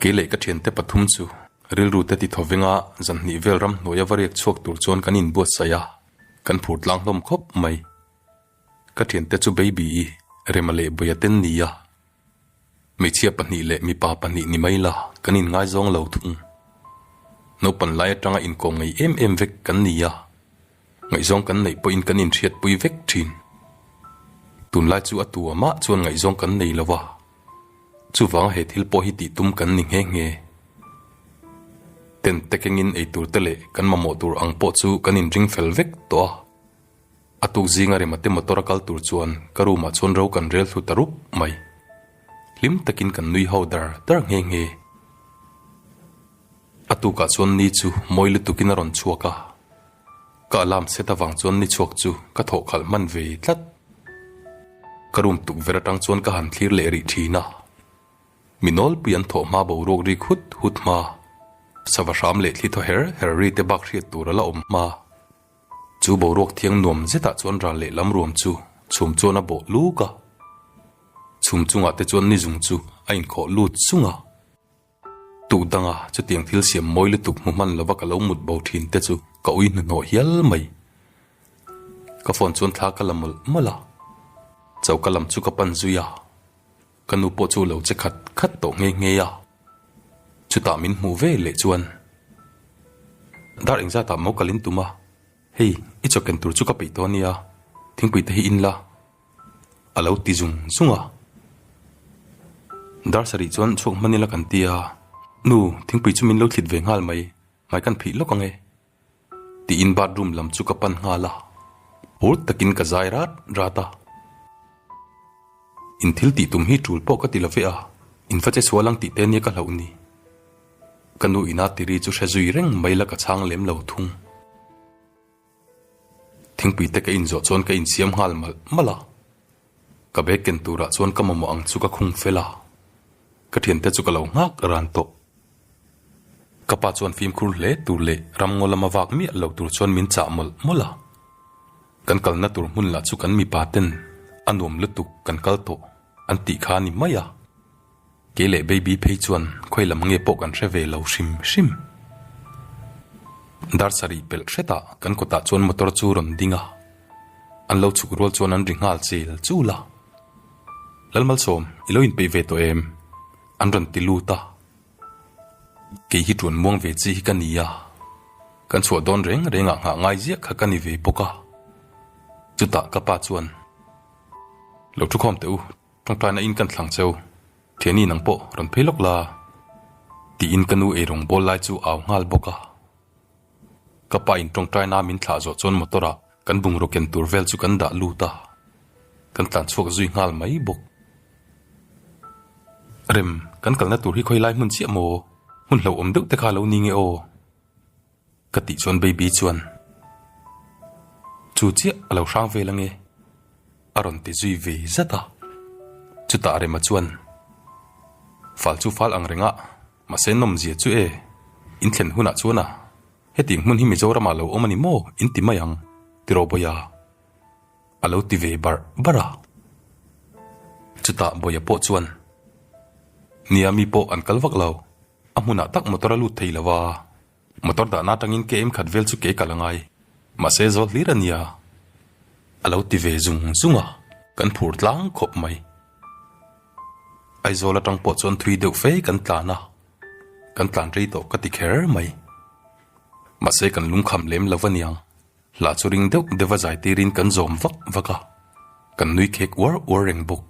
Keileh ka thiante pathum chu rilrute ti thawvenga zanhnih vel ramhnuaia va riak chhuak tur chuan kan inbuatsaih a, kan phur tlang hlawm khawp mai. Ka thiante chu baby i rema leh buia ten ni a, hmeichhia pahnih leh mipa pahnih ni mai la kan in ngaizawng lo thung. Naupan lai atanga inkawm ngei em em vek kan ni a, ngaihzawng kan neih pawhin kan in hriatpui vek thin. Tun lai chu a tua mah chuan ngaihzawng kan nei lo a, chuvanga he thil pawh hi tihtum kan ni nghe nghe. Tent te kengin eitur te leh kan mamawh tur ang pawh chu kan in ring fel vek tawh a. A tukzing a rem ate motor a kal tur chuan ka room ah chuan ro kan rel thlu ta rup mai. Hlim takin kan nui ho dar dar nghe nghe. A tukah chuan ni chu mawi lutukin a rawn chhuak a. Ka alarm set avang chuan ni chhuak chu ka thawh khalh hman ve tlat. Ka room tukverh atang chuan ka han thlir leh rih thin a. Mi nawlpui an thawh hma boruak ri khut hut hma. Sava hram leh thli thaw her her ri te bak hriat tur ala awm hma. Chu boruak thiang nuam zetah chuan ral leh lam ruam chu chhum chuan a bawh lûk a. Chhum chungah te chuan nizung chu a inkhawh lût sung a. Tuh danga chutiang thil siam mawi lutuk hmu hman lova ka lo mut bo thin te chu ka ui hnuhnawh hial mai. Ka phone chuan thla ka la mawlh mawlh a. Choka lam chu ka pan zui a. Ka nu pawh chu lo che khat khat tawh ngei ngei a, chutah min hmuh vel leh chuan dar eng zatah mo kalin tum a, hei i chaw ken tur chu ka peih tawh a nia, thingpui te hi in la a lo ti zung zung a. Dar sarih chuan chhuak hman ila kan ti a, Nu, thingpui chu min lo thlit ve nghal mai, hmai kan phih lawk ang e. Tiin bathroom lam chu ka pan nghal a, hur takin ka zai rat rat a. In thil tih tum hi tul pawh ka ti love a, in face sual ang tih te nia ka hloh ni. Ka nu in a tiri chu hre zui reng mai la ka chhang lem lo thung. Thingpui te ka in zawh chuan ka in siam nghal malh malh a. Ka bag ken turah chuan ka mamawh ang chu ka khung fel a, ka thiante chu ka lo nghak a ran tawh. Ka pa chuan fimkhur hle tur leh ramngaw lama vak miah lo tur chuan min chah mawlh mawlh a, kan kalna tur hmun lah chu kan mipaten a nuam lutuk kan kal tawh an tih kha a ni mai a, Kei leh baby phei chuan khawi lam nge pawh kan hre ve lo hrim hrim. Dar sarih pelh hretah kan kawtah chuan motor chu rawn ding a, an lo chhuk rual chuan an ri nghal chil chul a. Lalmalsawm i lo inpeih ve tawh em? an rawn ti lut a. Kei hi tuan muang ve chi hi ka ni a, kan chhuah dawn reng rengah nghah ngai ziah kha ka ni ve bawk a. Chutah ka pa chuan, Lo thukhawm teh u, Tawngtaina in kan thlang cheu, Tiani nang pawh rawn phei lawk la, tiin ka nu eirung bawl lai chu a au nghal bawk a. Ka pa in tawngtaina min thlah zawh chuan motor ah kan bungraw ken tur vel chu kan dah lut a, kan tlan chhuak zui nghal mai bawk. Rem, kan kalna tur hi khawi lai hmun chiah maw, hmun hlauhawm deuh te kha lo ni nge aw. Ka tih chuan Baby chuan, Chu chiah a lo hrang vel ange, a rawn ti zui ve zat a. Chutah Rema chuan, Fal chu fal ang rengah, mahse nawmzia chu e, in thlen hunah chuan a, Heti hmun hi Mizoramah lo awm a ni maw in ti mai ang, tiraw Bawia? a lo ti ve barh barh a. Chutah Bawia pawh chuan, Nia mi pawh an kal vak lo, A hmunah tak motor a lut thei lo a, motor dahna atangin KM khat vel chu ke kal a ngai. Mahse zawl hlir a nia, a lo ti ve zung zung a, kan phur tlang khawp mai. Aizawl atang pawh chuan thui deuh fe kan tlan a, kan tlan rei tawh ka ti kher mai. Mahse kan lungkham lem lo a niang. Hla chu ring deuh deuha zai tirin kan zawm vak vak a, kan nui khek uar uar reng bawk.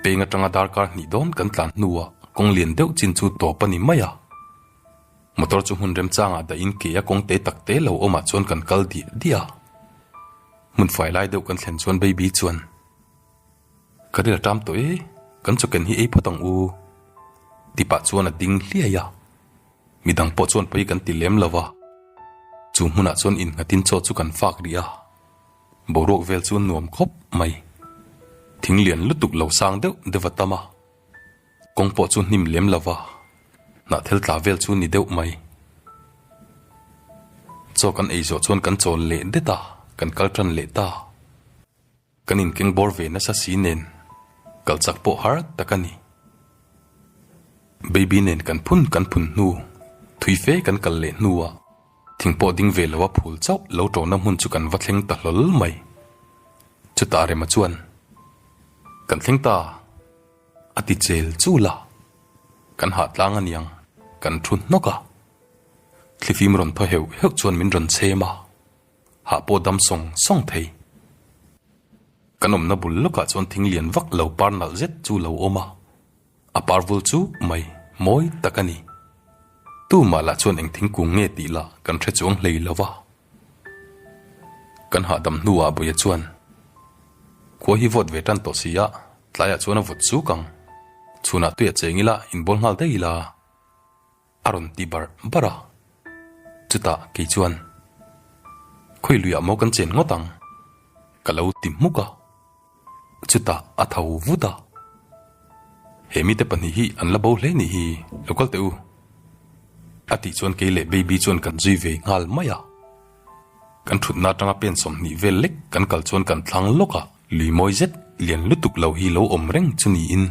Peng atanga darkar hnih dawn kan tlan hnuah kawng lian deuh chin chu tawp a ni mai a. Motor chu hmun remchangah dahin ke a kawng te tak te lo awmah chuan kan kal diah diah a. Hmun fai lai deuh kan thlen chuan Baby chuan, Ka ril a ṭam tawh e, kan chaw ken hi ei phawt ang u, tih pah chuan a ding hliai a. Midang pawh chuan pawi kan ti lem lova, chu hmunah chuan inghatin chaw chu kan fak rih a, boruak vel chu nuam khawp mai. Thing lian lutuk lo sang deuh deuh a tam a, kawng pawh chu hnim lem lova, hnah thel tla vel chu ni deuh mai. Chaw kan ei zawh chuan kan chawl leh det a, kan kal tan leh ta. Kan inkeng bawr ve nasa si nen kal chak pawh har tak a ni. Baby nen kan phun kan phun hnu, thui fe kan kal leh hnuah thing pawh ding ve loa phul chauh lo tawna hmun chu kan va thleng ta hlawl mai. Chutah rema chuan, Kan thleng ta a ti chel chu la, kan hahtlang a niang kan thu hnawk a. Thlifim rawn thaw heuh heuh chuan min rawn chhem a. hah pawh dam sawng sawng thei. Kan awmna bul lawkah chuan thing lian vak lo par nalh zet chu lo awm a, a par vul chu mai mawi tak a ni. Tumah lah chuan eng thingkung nge tih lah kan hre chuang hlei lo va. Kan hahdam hnuah Buia chuan, Khua hi vawt ve tan tawh si a, tlaiah chuan a vawt suk ang. Chhunah tuiah cheng ila inbawl nghal daih ila. A rawn ti barh barh a, chutah kei chuan Khawiluiah maw kan chen ngawt ang? ka lo ti hmuk a, chutah a tho vut a, He mite pahnih hi an la bo hle ni hi, lo kal teh u, a tih chuan kei leh Baby chuan kan zui ve nghal mai a, kan thutna atanga pen sawmhnih vel lek kan kal chuan kan thlang lawk a, lui mawi zet lian lutuk lo hi lo awm reng chu niin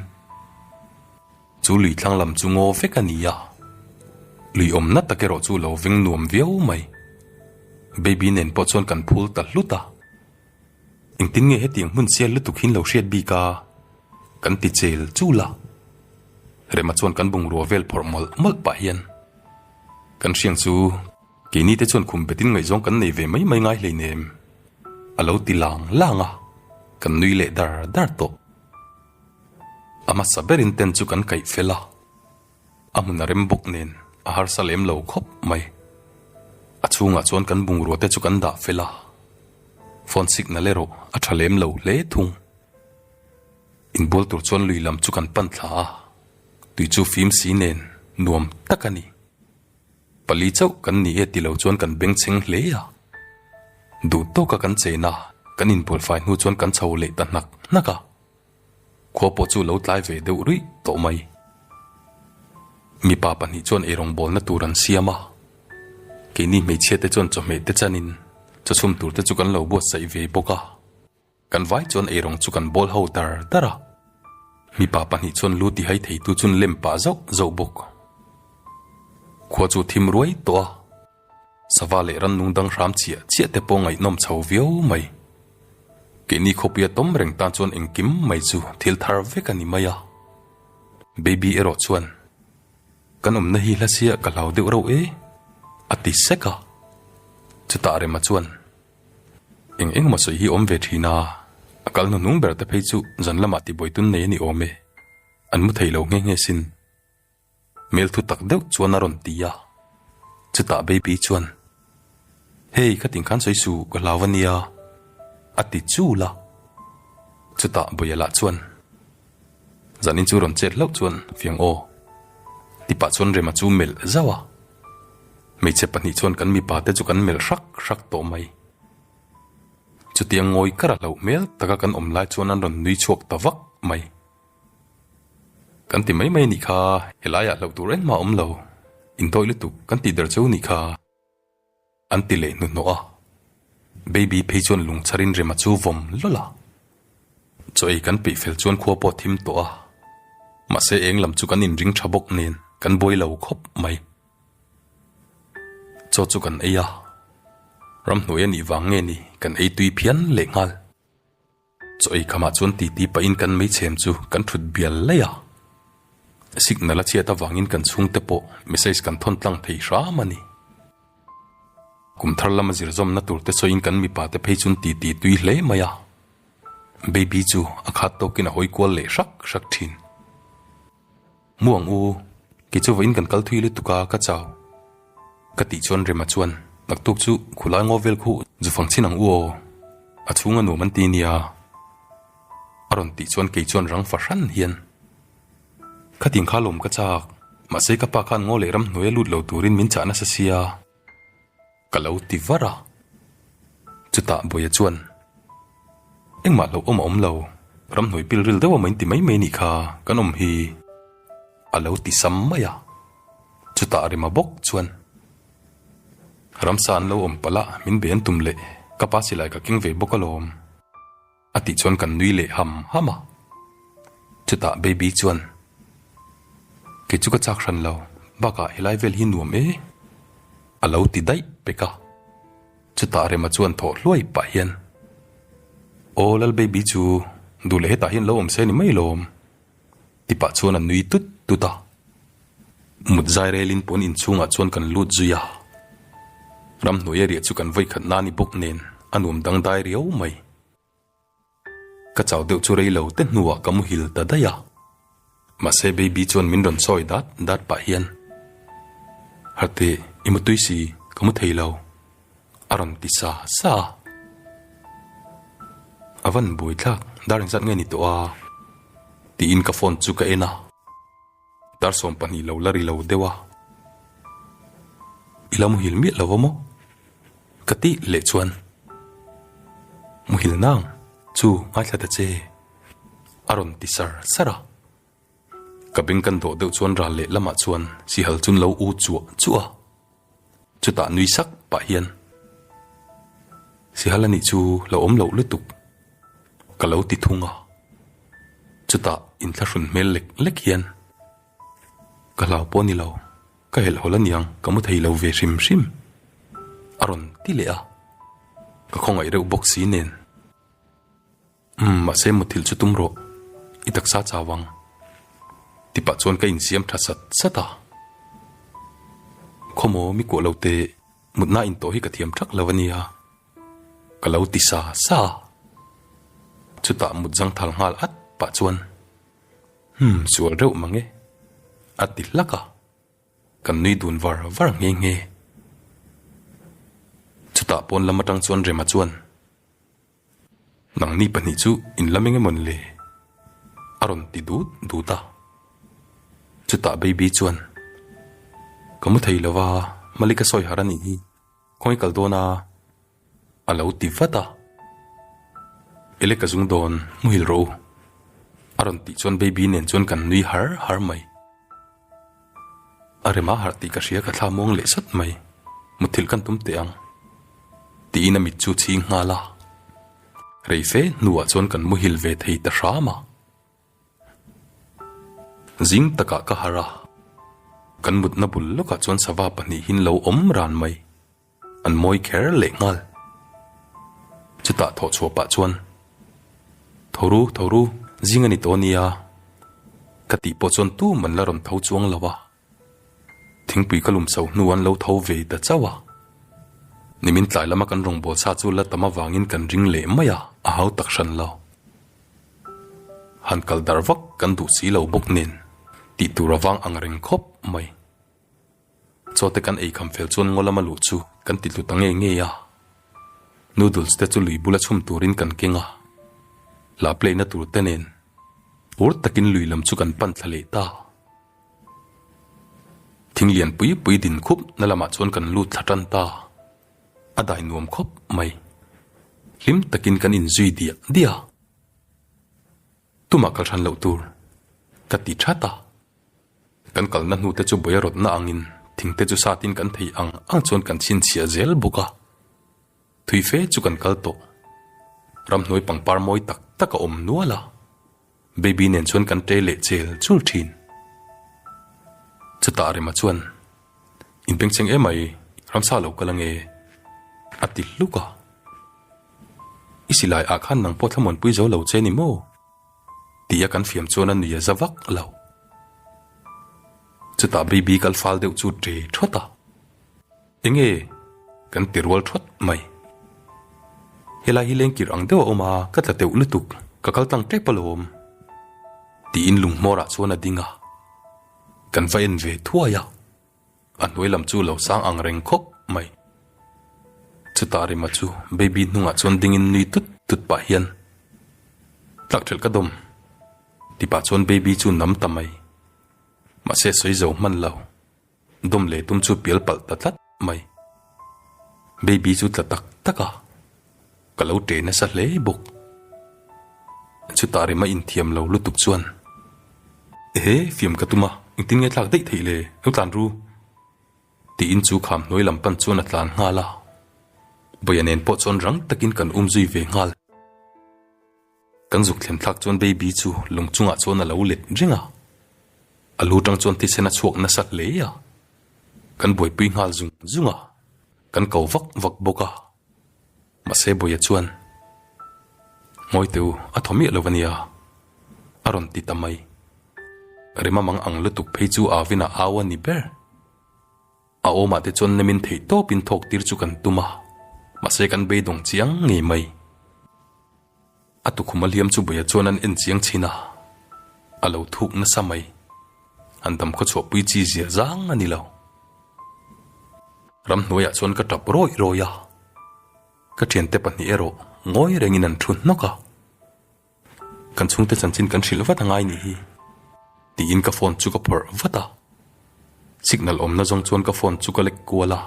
Chu lui thlang lam chu ngaw vek a ni a, lui awmna tak erawh chu lo veng nuam viau mai. Baby nen pawh chuan kan phul ta hlut a. Engtin nge hetiang hmun sial lutuk hi'n lo hriat bik a? kan ti chel chul a. Rema chuan kan bungrua vel phawrh mawlh mawlh pah hian kan hriang chu keini te chuan khum betin ngaihzawng kan nei ve mai mai ngai hleinem a lo ti lang lang a, kan nui leh dar dar tawh. A hmasa berin ten chu kan kaih fel a, a hmun a rem bawk nen a harsa lem lo khawp mai. A chhungah chuan kan bungrua te chu kan dah fel a, phone signal erawh a tha lem lo hle thung. Inbual tur chuan lui lam chu kan pan thla a, tui chu fim si nen nuam tak a ni. Pali chauh kan ni e tilo chuan kan beng chheng hle a. Duh tawka kan cheina kan inbualfai hnu chuan kan chho leh ta hnak hnak a. Khua pawh chu lo tlai ve deuh ruih tawh mai. Mipa pahnih chuan erawng bawlna tur an siam a. Keini hmeichhia te chuan chawhmeh te chanin chawchhum tur te chu kan lo buatsaih ve bawk a. Kan vai chuan eirang chu kan bawl ho dar dar a, mipa pahnih chuan lu ti hai thei tu chun lem pah zauh zauh bawk. Khua chu thim ruai tawh a, sava leh rannung dang hram chiah chiah te pawh ngaihnawm chho viau mai. Keini khawpuia tawm reng tan chuan engkim mai chu thil thar vek a ni mai a. Baby erawh chuan, Kan awmna hi hlasia ka hlau deuh reuh e, a ti sek a. Chutah rema chuan, Eng eng maw sawi hi awm ve thin a, a kal na hnung ber te phei chu zan lamah tibuai tun nei a ni awm e, an mu thei lo nge nge sin. Hmel thu tak deuh chuan a rawn ti a, chutah Baby chuan, Hei khatin khan sawi suh ka hlau a nia, a ti chul a. Chutah Buaila chuan. Zanin chu rawn chet hlauh chuan fiang aw ti pah chuan rema chu melh zauh a. Hmeichhe pahnih chuan kan mipa te chu kan melh hrak hrak tawh mai. Chutiang ngawi kara hlauh hmel taka kan awm lai chuan an rawn nui chhuak ta vak mai. Kan ti mai mai nih kha helaiah hlauh tur engmah awm lo, indawi lutuk kan tih der chu nih kha. An ti leh hnuhnawh a, Baby phei chuan lungchharin rema chu vawm lawlh a, chaw ei kan peih fel chuan khua pawh a thim tawh a, mahse eng lam chu kan inring tha bawk nen kan buai lo khawp mai. Chaw chu kan ei a, ramhnuai a nih vang nge ni kan ei tui phian lehnghal. Chu eikamah chuan titi pahin kan meichhem chu kan thut bial laih a, signal a chhiat avangin kan chhungte pawh message kan thawn tlang thei hram a ni. Kum thar lama zir zawmna turte sawiin kan mipa te phei chuan titi tui hle mai a, baby chu a khat tawkin a hawi kual leh hrak hrak thin. Mu ang u, kei chu vawiin kan kal thui lutuk a ka chau. Ka tih chuan Rema chuan, Naktuk chu khulai ngaw vel khuh zu fang chin ang u aw, a chhung a nuam an ti nia a rawn tih chuan kei chuan rang fa hran hian khatin kha lawm ka chak, mahse ka pa khan ngaw leh ramhnuaia lut lo turin min chah nasa sia. Ka lo ti var a. Chutah Bawiha chuan, Engmah hlauh awm a awm lo, ramhnuai pilril deuh a main ti mai mai nih kha kan awm hi a lo ti sam mai a. Chutah Rema bawk chuan, Ramsa an lo awm palh a min be an tum leh, ka pa silai ka keng ve bawk alawm. A tih chuan kan nui leh ham ham a. Chutah Baby chuan, Kei chu ka chak hran lo, bakah helai vel hi nuam e, a lo ti daih pek a. Chutah Rema chuan thawh hluai pah hian, Aw Lal Baby chu duh leh hetah hian lo awm se a ni mai lawm. Tipah chuan a nui tut tut a. Mut zairelin pawn inchhungah chuan kan lut zui a. Ramhnuaia riah chu kan vawikhat na ni bawk nen a nuam dangdai riau mai. Ka chau deuh chu rei lo te hnuah ka muhil ta daih a. Mahse Baby chuan min rawn sawi dat dat pah hian, Hate, i mutui si, ka mu thei lo. A rawn ti sa sa a. A van buai thlak, Darling zat nge ni tawh a? tiin ka phone chu ka en a. Tarsawm pahnih lo la ri lo deuh a. I la muhil miah lo maw? Ka ti leh chuan, Muhil nang chu ngaithla ta che, a rawn ti sar sar a. Ka beng kan rawh deuh chuan ral leh lamah chuan sihal chun lo u chuah chuah. Chutah nui sak pah hian sihal anih chu lo awm loh lutuk ka lo ti thung a. Chutah in thla hrun hmel lek lek hian ka hlau pawh a ni lo, ka helh hawl a niang ka mu thei lo ve hrim hrim. A rawn ti leh a, ka khawngaih reuh bawk si nen. Umm, mahse muthilh chu tum rawh, i taksa chau ang, ti pah chuan ka insiam tha sat sat a. Khaw maw mi kuah lote mutna in tawh hi ka thiam thak lo a nia, ka lo ti sa sa a. Chutah mut zangthal nghal at pah chuan, Umm, sual reuh mang e, a ti hlak a, kan nui dun var var nghe nghe. Chutah pawn lam atang chuan Rema chuan, Nangni pahnih chu in la meng em awn le? a rawn ti dut dut a. Chutah Baby chuan, Ka mu thei lova, Mallika sawihar a nih hi, khawngaih kal dawn a, a lo ti vat a. Ele ka zung dawn, muhil rawh u, a rawn tih chuan Baby nen chuan kan nui har har mai. A rem a harh tih ka hria ka thla muang leh sat mai, mutthilh kan tum teh ang. Tiin a mit chu chhing nghal a, rei fe hnuah chuan kan muhil ve thei ta hram a. Zing takah ka harh a, kan mutna bul lawkah chuan sava pahnih hi an lo awm ran mai. An mawi kher leh nghal. Chutah thawh chhuah pah chuan, Thoru, Thoru, zing a ni tawh a nia, ka tih pawh chuan tum an la rawn tho chuang lo a, thingpui ka lum so hnu an lo tho ve ta chauh a, nimin tlai lama kan rawngbawlh sa chu la tam avangin kan ring leh mai a, a hau tak hran lo. Han kal darh vak kan duh si lo bawk nen, tih tur avang ang reng khawp mai. Chawte kan ei kham fel chuan ngaw lama luh chu kan ti tlu ta ngei ngei a. Noodles te chu lui bula chhum turin kan keng a. La play na tur te nen ur takin lui lam chu kan pan thla leh ta. Thing lian pui pui din khup na lamah chuan kan lut thla tan ta. A dai nuam khawp mai. Hlim takin kan in zui diah diah a. Tumah kal hran loh tur ka ti that a. Kan kalna hnute chu buairawtna angin thingte chu satin kan theih ang ang chuan kan chhinchhiah zel bawk a, thui fe chu kan kal tawh. Ramhnuai pangpar mawi tak tak a awm nual a, baby nen chuan kan tle leh chel chul thin. Chutah Rema chuan, In pengcheng em ai, ramsa lo kal ange, a ti hluk a. I silaiah khan nangpawh thlamuanpui zo lo che ni maw? Tih a kan fiam chuan a nuia za vak lo. Chutah Baby kal fal deuh chu ṭe ṭhawt a, Enge? kan ti rual ṭhawt mai. Helai hi lengkir ang deuh a awm a, ka tla teuh lutuk, ka kal tlang ṭep alawm. Tiin lunghmawrah chuan a ding a, kan va en ve thuai a, A hnuai lam chu lo sang ang reng khawp mai. Chutah Rima chu Baby hnungah chuan dingin nui tut tut pah hian, Tlak ṭhelh ka dawm. Ti pah chuan Baby chu nam ta mai. Mahse sawi zo hman lo, dawm leh tum chu pial palh ta tlat mai. Baby chu tla tak tak a. ka lo ṭe nasa hle bawk. Chutah rem a inthiam lo lutuk chuan, Ehe, fiam ka tum a, engtin nge tlak daih theih le, lo tlan ru. Tiin chu kham hnuai lam pan chuan a tlan nghal a. Bawia nen pawh chuan rang takin kan um zui ve nghal. Kan zuk thlemthlak chuan baby chu lung chungah chuan a lo let reng a, a lu tang chuan thisen a chhuak nasa hle a, kan buaipui nghal zung zung a, kan ko vak vak bawk a, mahse bawia chuan Ngawi te u, a thaw miah lo ania a rawn ti ta mai, Rimamang ang lutuk phei chu Avina au a ni ber, A awmah te chuan lemin theih tawpin thawk tir chu kan tum a, mahse kan beidawng chiang ngei mai. A tukhuma hliam chu buia chuan an en chiang chhin a, a lo thuk nasa mai. An dam khawchhuahpui chi zia zang a ni lo. Ram hnuaiah chuan ka tap rawi rawi a, ka thiante pahnih erawh ngawi rengin an thu hnawk a. Kan chhungte chanchin kan hrilh vat angai ni hi tiin ka phone chu ka phawrh vat a, signal awmna zawng chuan ka phone chu ka lek kual a,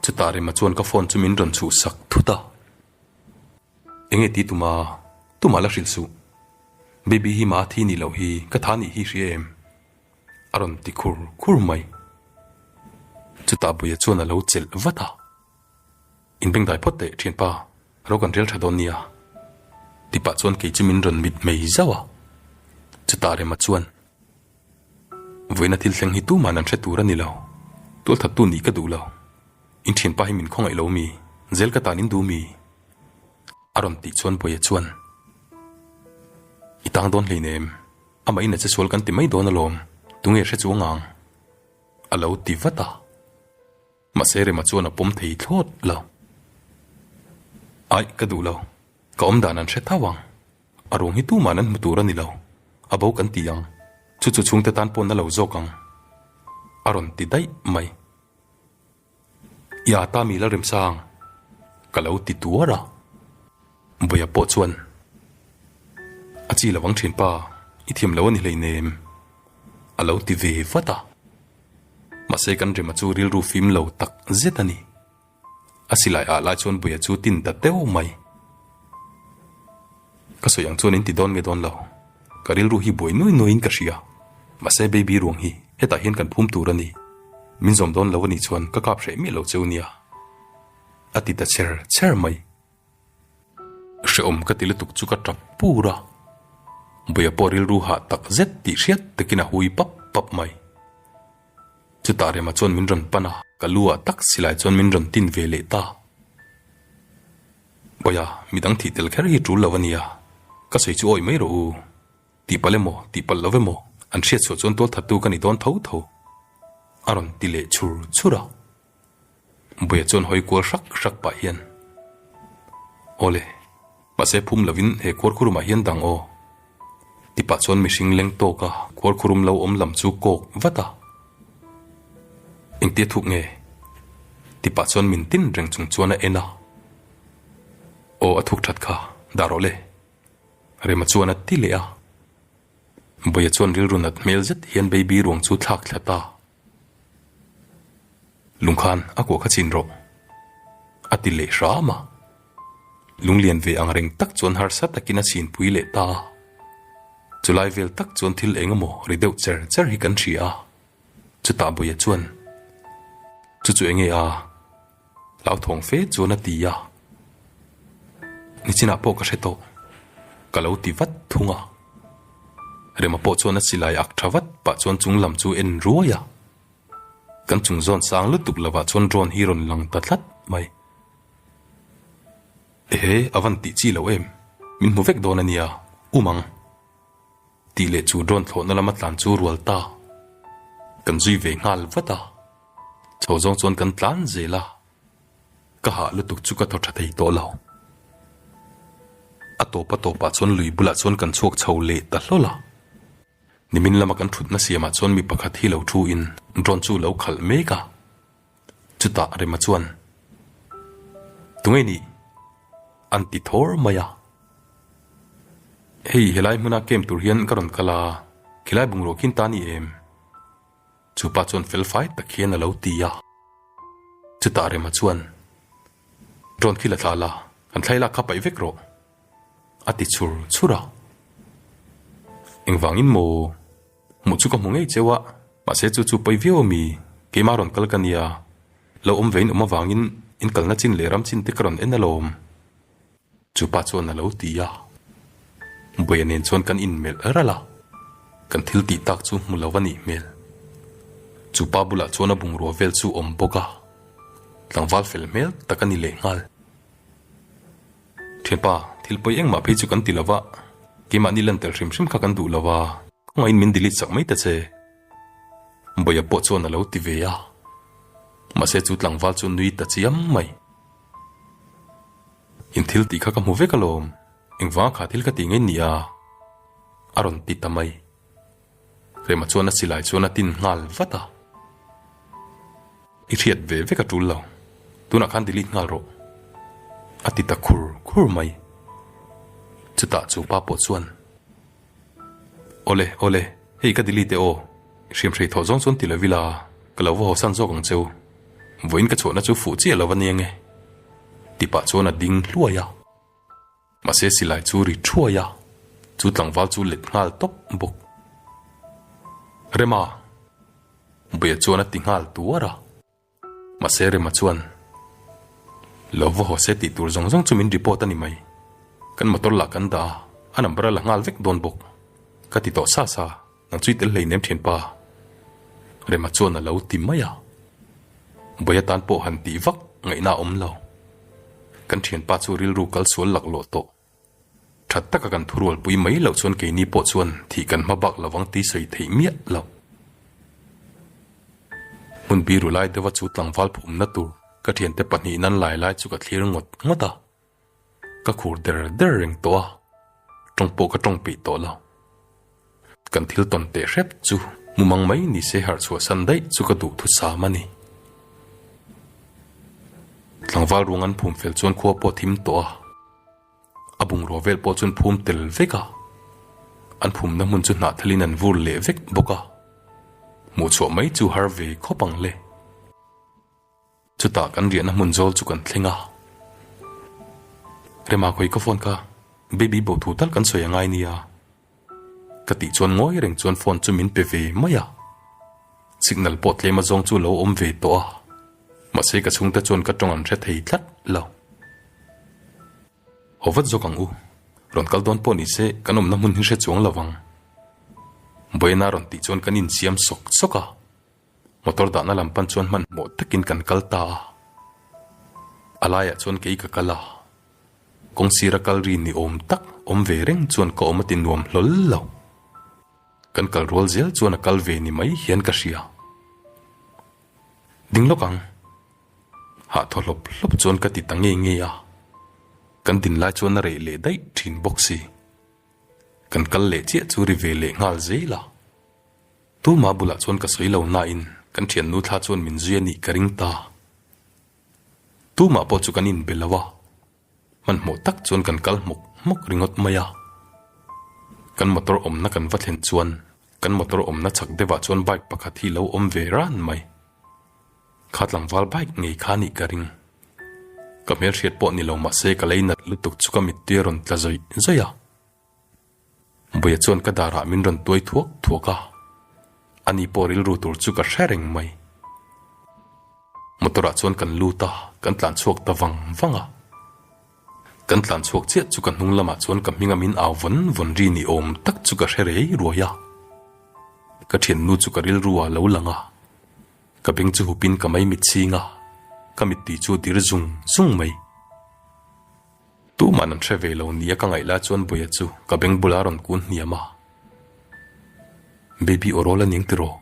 chutah rema chuan ka phone chu min rawn chhuh sak thut a. Enge ti tum a, tumah la hrilh suh, baby hi mah thi ni loh hi ka tha ni hi hria em? a rawn ti khur khur mai. Chutah buia chuan a lo chelh vat a. In beng dai phawt teh thianpa alo kan rel tha dawn nia ti pah chuan kei chim in rawn mit mai zauh a, chutah rema chuan vawiina thil thleng hi tuman an hre tur anilo, tual that tu nih ka duhlo, in thianpa hi min khawngaih lo mi, zel ka tan in duh mi? a rawn tih chuan Bawiha chuan I tang dawn hlein em, amah in a che sual kan ti mai dawn alawm, tunge hre chuang ang? alo ti vat a. Mahse rema chuan a pawm thei thlawt lo. Aih ka duh lo, ka awm dan an hre thau ang. A ruang hi tuma'n an hmu tur a ni lo, a bo kan ti ang, chu chu chhungte tan pawh na lo zawk ang. A rawn ti daih mai. Iah Tamila remsang, ka lo ti tuar a. Buia pawh chuan a chi lovang thin, Pa, i thiam lo a ni hleinem, a lo ti ve vat a. Mahse kan rema chu rilru fim lo tak zet a ni. A silai ah lai chuan Buia chu tin ta teuh mai. Ka sawi ang chuan in ti dawn nge dawn lo, ka rilru hi buai nuai nuai in ka hria. Mahse baby ruang hi hetah hian kan phum tur a ni, min zawm dawn lo a nih chuan ka kap hreh miah lo cheu nia, a ti ta chher chher mai. Hrehawm ka ti lutuk chu ka tap pur a, Buia pawh rilru hah tak zet tih hriat takin a hui pap pap mai. Chutah remah chuan min rawn pan a, ka lu ah tak silai chuan min rawn tin ve leh ta. Awia, midang thih tel kher hi tul lo a nia, ka sawi chu awi mai rawh u, tihpal emaw tihpalh lo emaw an hriatchhuah chuan tualthattu ka ni dawn tho tho, a rawn ti leh chhur chhur a. Buia chuan hawi kual hrak hrak pah hian, Aw le, mahse phum lovin he kual khurum ah hian dang aw. Tipah chuan mihring leng tawk a kual khurum lo awm lam chu kawk vat a. Engtia thuk nge? Tipah chuan min tin reng chung chuan a en a. Aw a thuk that kha, dah rawh le. Rema chuan a ti leh a. Buia chuan rilru nat hmel zet hian baby ruang chu thlak thlat a. Lung khan a kuah kha chin rawh, a ti leh hram a. Lunglian ve ang reng tak chuan harsa takin a chhinpui leh ta a. Chulai vel tak chuan thil eng emaw ri deuh cher cher hi kan hria a. Chutah Bawihah chuan, Chu chu enge a, Hlauthawng fe chuan a ti a, nichinah pawh ka hre tawh, ka lo ti vat thung a. Rema pawh chuan a silai ak tha vat pah chuan chung lam chu en ruai a. Kan chung zawn sang lutuk lovah chuan drone hi rawn lang ta tlat mai. Ehe, a van tih chi loh em? Min hmu vek dawn a nia, um ang. Tih leh chu drone thlawhna lama tlan chu rual ta, kan zui ve nghal vat a. Chaw zawng chuan kan tlan zel a, ka hah lutuk chu ka thaw tha thei tawh lo. A tawpa tawpah chuan lui bulah chuan kan chhuak chho leh ta hlawl a. Nimin lama kan thutna siamah chuan mi pakhat hi lo thuin drone chu lo khalh mek a, chutah Rema chuan, Tunge ni? an ti thawr mai a. Hei, helai hmuna came tur hian ka rawn kal a, khilai bungrua khin ta a ni em? Chupa chuan felfai tak hian a lo ti a. Chutah Rema chuan, Drone khi la thla la, kan thlailak kha paih vek rawh, a ti chhur chhur a. Engvangin maw? Hmuh chu ka hmu ngei cheu a, mahse chu chu pawi viau a mi. Keimah a rawn kal ka nia, lo awm vein awm avangin in kalna chin leh ram chin te ka rawn en alawm. Chupa chuan a lo ti a, Buaia nen chuan kan inmelh ralh a, kan thil tih tak chu hmu lo a nih hmel. Chupa bulah chuan a bungrua vel chu awm bawk a, tlangval fel hmel tak a ni leh nghal. Thianpa, thil pawi engmah phei chu kan ti lo a, keimahni lan tel hrim hrim kha kan duh lo a, khawngaihin min delete chak mai ta che. Buaia pawh chuan a lo ti ve a, Mahse chu tlangval chu nui ta chiam mai, In thil tih kha ka hmu vek alawm, engvang kha thil ka ti ngei nia? a rawn ti ta mai. Rema chuan a silai chuan a tin nghal vat a. I hriat ve vek a tul lo, tunah khan delete nghal rawh, a ti ta khur khur mai. Chutah chu pa pawh chuan. Aw le, aw le, hei ka delete e aw, hriam hrei thawh zawng chuan ti lo vil a, ka lo va haw san zawk ang che u, vawiin ka chhuahna chu fuh chiah lo a nia nge. Ti pah chuan a ding hluai a. Mahse silai chu ri thuai a, chu tlangval chu let nghal tawp bawk. Rema! Buia chuan a ti nghal tuar a. Mahse rema chuan lo va haw se tih tur zawng zawng chu min report a ni mai. Kan motor lah kan dah a, a number a la nghal vek dawn bawk. Ka ti tawh sa sa, nang chu i tel hleinem ṭhin pa. Rema chuan a lo ti mai a. Bawiha tan pawh han tih vak ngaihna a awm lo. Kan ṭhianpa chu rilru kal sual lak lawh tawh. That taka kan thu rualpui mai loh chuan keini pawh chuan thih kan hma bak lovang tih sawi theih miah lo. Hmun biru lai deuha chu tlangval phumna tur ka thiante pahnih in an lai lai chu ka thlir ngawt ngawt a. Ka khur der der reng tawh a, tawng pawh ka tawng peih tawh lo. Kan thil tawn teh hrep chu mumang mai ni se harh chhuah san daih chu ka duh thu sam a ni. Tlangval ruang an phum fel chuan khua pawh a thim tawh a, a bungrua vel pawh chuan phum tel vek a, an phumna hmun chu hnah thalin an vur leh vek bawk a, hmuh chhuah mai chu har ve khawp ang le. Chutah kan riahna hmun zawl chu kan thleng a. Rema khawi ka phone kha, Baby bo thu tal kan sawi a ngai nia. Ka tih chuan ngawi reng chuan phone chu min pe ve mai a. Signal pawh tlema zawng chu lo awm ve tawh a, mahse ka chhungte chuan ka tawng an hre thei tlat lo. Haw vat zawk ang u, rawn kal dawn pawh ni se kan awmna hmun hi hre chuang lo ang. Buena rawn tih chuan kan insiam sawk sawk a. Motor dahna lam pan chuan hmanhmawh takin kan kal ta a, a laiah chuan kei ka kal a, kawng sira kal ri ni awm tak awm ve reng chuan ka awm a ti nuam hlawl lo. Kan kal rual zel chuan a kal ve ni mai hian ka hria. Ding lawk ang. Hahthaw hlawp hlawp chuan ka ti ta ngei ngei a, kan din lai chuan a rei leh daih thin bawk si. Kan kal leh chiah chu ri ve leh nghal zel a. Tumah bulah chuan ka sawi lo nain kan thiannu thla chuan min zui a nih ka ring ta. Tumah pawh chu kan inbe lo a, hmanhmawh tak chuan kan kal hmawk hmawk ringawt mai a. Kan motor awmna kan va thlen chuan kan motor awmna chak deuhah chuan bike pakhat hi lo awm ve ran mai. Kha tlangval bike ngei kha nih ka ring. Ka hmelhriat pawh ni lo mahse ka lei nalh lutuk chu ka mittir a rawn tla zawih zawih a. Buia chuan ka darah min rawn tuai thuak thuak a, ani pawh rilru tur chu ka hre reng mai. Motor ah chuan kan lut a, kan tlan chhuak ta vang vang a. Kan tlan chhuak chiah chu ka hnung lamah chuan ka hming a min au vawn vawn ri ni awm tak chu ka hre rei ruai a. Ka thiannu chu ka rilru ah lo lang a, ka beng chu hupin ka mai mitchhing a, ka mitti chu a dir zung zung mai. Tuman an hre ve lo nia ka ngaih lai chuan Buia chu ka beng bula rawn kun hniam a, Baby Orawl a ning tiraw?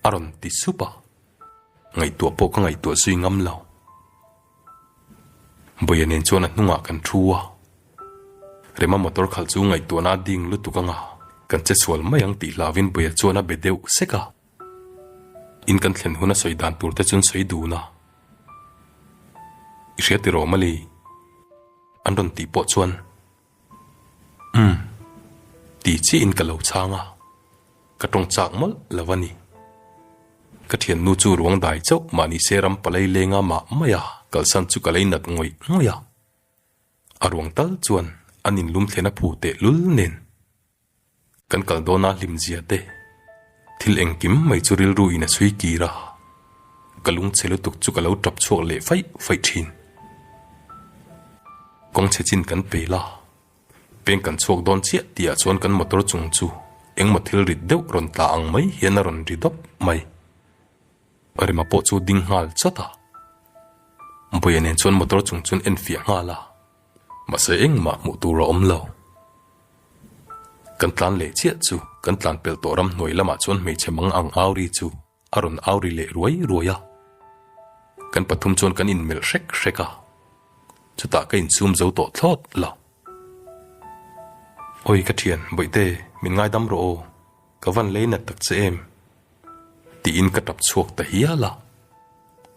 a rawn ti sup a, ngaihtuah pawh ka ngaihtuah zui ngam lo. Buia nen chuan a hnungah kan thu a, Rema motor khalh chu ngaihtuahna a ding lutuk anga kan che sual mai ang tih hlavin Buia chuan a be deuh sek a. In kan thlen huna sawi dan tur te chun sawi dun a i hria tirh awm a li an rawn tih pawh chuan umm ti chiah in ka lo chhang a, ka tawng chak mawlh lo a ni. Ka thiannu chu ruang dai chauh mah ni se ram palai lenga mah mai a kalsan chu ka lei nat ngawih ngawih a, a ruang tal chuan an in lum thlen a phu tehlul nen. Kan kal dawn a hlim zia te. Thil engkim mai chu rilru in a sui kir a, ka lungchhe lutuk chu ka lo tap chhuak leh faih faih thin. Kawng chhe chin kan pe la, peng kan chhuak dawn chiah ti ah chuan kan motor chung chu engmaw thil rit deuh rawn tla ang mai hian a rawn ri dawp mai. Ka rema pawh chu ding nghal chawt a, Bawiha nen chuan motor chung chu an en fiah nghal a, Mahse engmah hmuh tur a awm lo. Kan tlan leh chiah chu kan tlan pelh tawh ram hnuai lamah chuan hmeichhe mang ang au ri chu a rawn au ri leh ruai ruai a. Kan pathum chuan kan in melh hrek hrek a. Chutah ka in sum zo tawh thlawt la. Awi ka thian, Bawihte, min ngaidam rawh aw, ka van lei nat tak che em. Tiin ka tap chhuak ta hial a,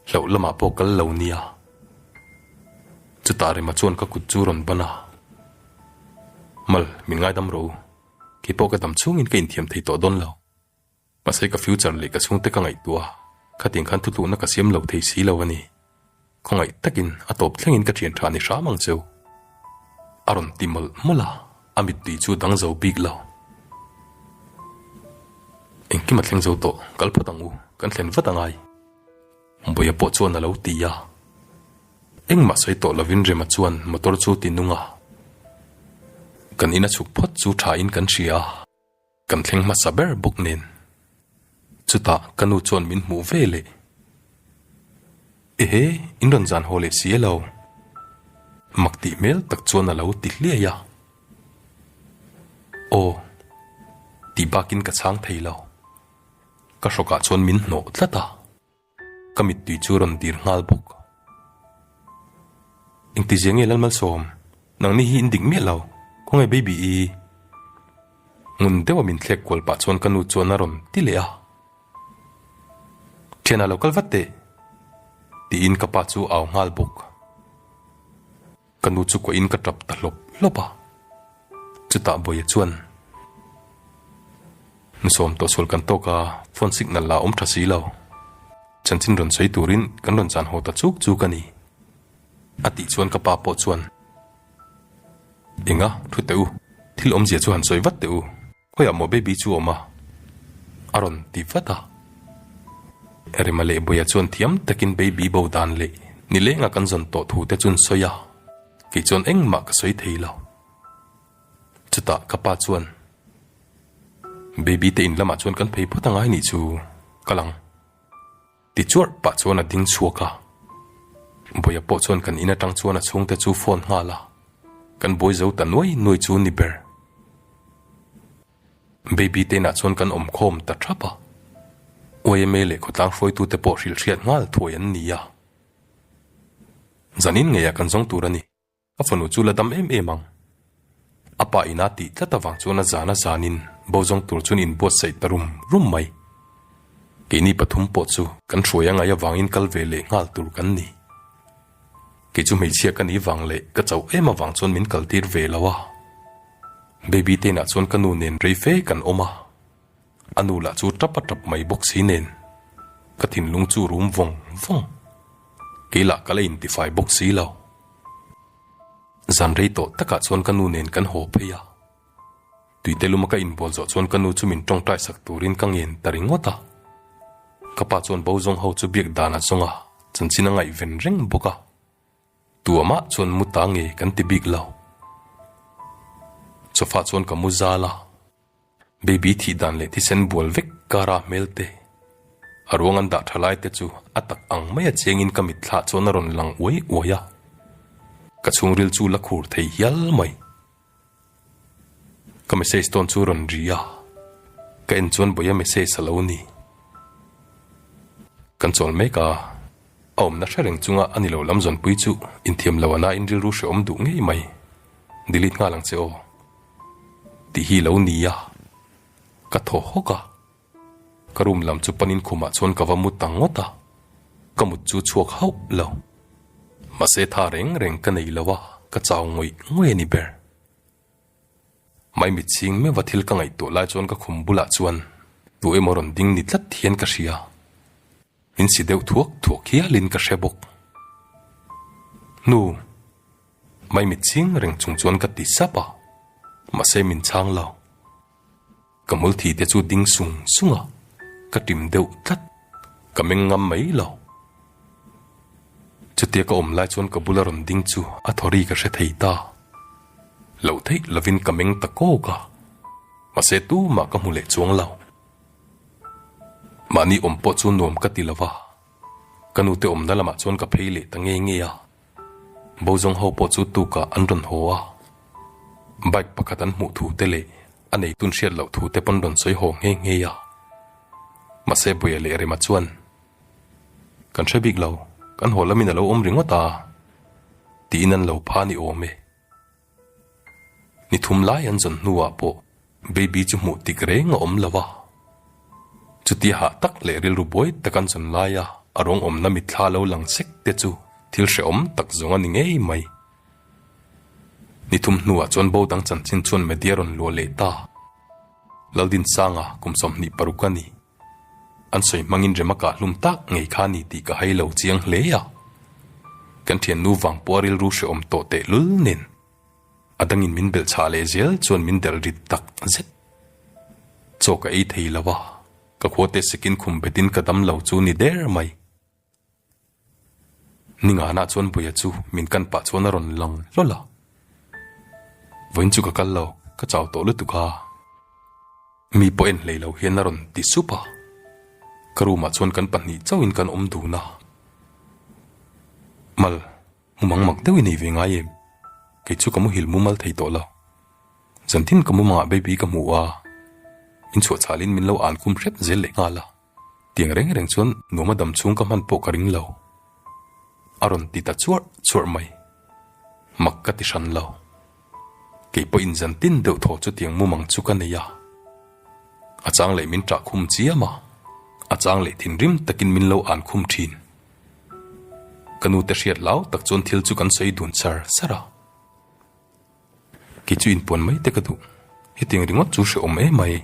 hlauh lamah pawh kal lo nia. Chutah rema chuan ka kut chu rawn ban a. Mal, min ngaidam rawh u, keipawh ka dam chungin ka inthiam thei tawh dawn lo. Mahse ka future leh ka chhungte ka ngaihtuah khatin khan thutluhna ka siam lo thei si lo a ni. Khawngaih takin a tawp thlengin ka thian tha ni hram ang cheu. A rawn ti mawlh mawlh a, a mittui chu dang zo bik lo. Engkim a thleng zo tawh, kal phawt ang u, kan thlen vat angai. Buaia pawh chuan a lo ti a, engmah sawi tawh lovin Rema chuan motor chu ti nunga kan ina chhuk phawt chu thain kan hria. Kan thleng hmasa ber bawk nen. Chutah ka nu chuan min hmuh ve leh. Ehe, in rawn zan haw leh si e lo. Mak tih hmel tak chuan a lo ti hliai a. Aw. Tih bakin ka chhang thei lo. Ka hrawkah chuan min hnawh tlat a. Ka mittui chu rawn dir nghal bawk. Engti zia nge Lalmalsawm, nang ni hi in ding miah lo, khawnge baby i? Ngun deuha min thlek kual pah chuan ka nu chuan a rawn ti leh a. Thianah lo kal vat teh! tiin ka pa chu a au nghal bawk. Ka nu chu kuahin ka tap ta hlawp hlawp a, chutah Bawia chuan, Nu sawm tawh sual kan tawk a, phone signal la awm tha si lo. Chanchin rawn sawi turin kan rawn chan haw ta chuk chuk a ni. A tih chuan ka pa pawh chuan, Enga, thu teh u, thil awmzia chu han sawi vat teh u. Khawi ah maw baby chu awm a? A rawn ti vat a. Rema leh Buia chuan thiam takin baby bo dan leh ni lenga kan zawn tawh thu te chun sawi a, kei chuan engmah ka sawi thei lo. Chutah ka pa chuan, Baby te in lamah chuan kan phei phawt a ngai nih chu ka lang. Ti chuarh pah chuan a ding chhuak a. Bawihah pawh chuan kan in atang chuan a chhungte chu phone nghal a, kan bawi zo ta nuai nuai chu ni ber. Baby te inah chuan kan awm khawm ta thap a, yma leh khawtlang hruaitute pawh hrilhhriat nghal thuai an ni a. Zanin ngeiah kan zawng tur a ni. A fanu chu la dam em em ang. A pa in a tih tlat avang chuan a zan a zanin bozawng tur chuan in buatsaih ta rum rum mai. Keini pathum pawh chu kan hruai a ngaih avangin kal ve leh nghal tur kan ni. Kei chu hmeichhia ka nih vang leh ka chauh em avang chuan min kaltir ve lo a. Baby tein ah chuan ka nu nen rei fe kan awm a. A nu lah chu tap a tap mai bawk si nen ka thinlung chu rum vawng vawng. Kei lah ka la in tifai bawk si lo. Zan rei tawh takah chuan ka nu nen kan haw phei a. Tuite luma ka in bual zawh chuan ka nu chu min tawngtai sak turin ka ngen ta ringawt a. Ka pa chuan bo zawng ho chu biak dan a zawng a, chanchin a ngaihven reng bawk a. Tu amah chuan mu ta nge kan ti bik lo. Sofa chuan ka mu zal a. Baby thih dan leh thisen bual vek kara hmel te a ruang an dah tha lai te chu a tak ang mai a chengin ka mitthla chuan a rawn lang uai uai a, ka chhungril chu la khur thei hial mai. Ka message tawn chu rawn ri a, ka en chuan bawih a message a lo ni. Kan chawl mek a. A awmna hre reng chunga a ni lo lam zawnpui chu inthiam lo a na in rilru hreawm duh ngei mai. Delete nghal ang che aw. Tih hi lo ni a, ka thaw hawk a. Ka room lam chu panin khumah chuan ka va mut ang ngawt a, ka mut chu chhuak hauh lo. Mahse tha reng reng ka nei lo a, ka chau ngawih ngawih a ni ber. Mai mit chhing meuh a thil ka ngaihtuah lai chuan ka khum bulah chuan tu emaw rawn ding ni tlat hian ka hria. Min si deuh thuak thuak hial in ka hre bawk. Hnu mai mit ching reng chung chuan ka ti sap a, mahse min chhang lo. Ka multhi te chu ding sung sung a, ka tim deuh tlat, ka meng ngam mai lo. Chutia ka awm lai chuan ka bula rawn ding chu a thaw ri ka hre thei ta. Lo theih lovin ka meng ta kawk a, mahse tumah ka hmu leh chuang lo. Mahni awm pawh chu nuam ka ti lo va, ka nu te awmna lamah chuan ka phei leh ta ngei ngei a, Bozawng ho pawh chu tukah an rawn haw a, bike pakhat an hmuh thu te leh a nei tun hriat loh thu te pawn rawn sawi haw nghe nghe a, mahse Buea leh Rema chuan Kan hre bik lo, kan haw lamin a lo awm ringawt a, tiin an lo pha ni awm e. Ni thum lai an zawn hnuah pawh baby chu hmuh tik reng a awm lova. Chutia hah tak leh rilru buai tak an zawn laia a rawng awmna mitthla lo lang sek te chu thil hrehawm tak zawng a ni ngei mai. Ni thum hnuah chuan bo dang chanchin chuan media rawn luah leh ta. Lal Dinsanga kum sawmhnih paruk a ni. An sawi hmangin rem a kah hlum tak ngei kha ni tih ka hai lo chiang hle a, kan thiannu Vangpuaa rilru hrehawm tawh teh lul nen a dangin min belh chhah leh zel chuan min derh rit tak zet. Chaw ka ei thei lo a, ka khuate sekin khum betin ka dam lo chu ni der mai. Ninganah chuan Buia chu min kan pah chuan a rawn lang hlawl a. Vawiin chu ka kal lo, ka chau tawh lutuk a. Mi pawh en hlei lo hian a rawn ti sup a. Ka room ah chuan kan pahnih chauhin kan awm dun a. Mal mu mang mak deuh i nei ve ngai em? Kei chu ka muhil mumal thei tawh lo. Zantin ka mumang ah baby ka hmu a, min chhuah chhalin min lo an khum hrep zel lehnghal a. Tiang reng reng chuan Nuama dam chhung ka hman pawh ka ring lo. A rawn ti ta chuarh chuarh mai. Mak ka ti hran lo. Kei pawh inzan tin deuh thaw chutiang mumang chu ka nei a. A chang leh min ṭah khum chiam a, a chang leh thinrim takin min lo ân khum ṭhin. Ka nute hriat lau tak chuan thil chu kan sawi dun sar sar a. Kei chu inpuan mai te ka duh. Hetiang ringawt chu hre awm e mai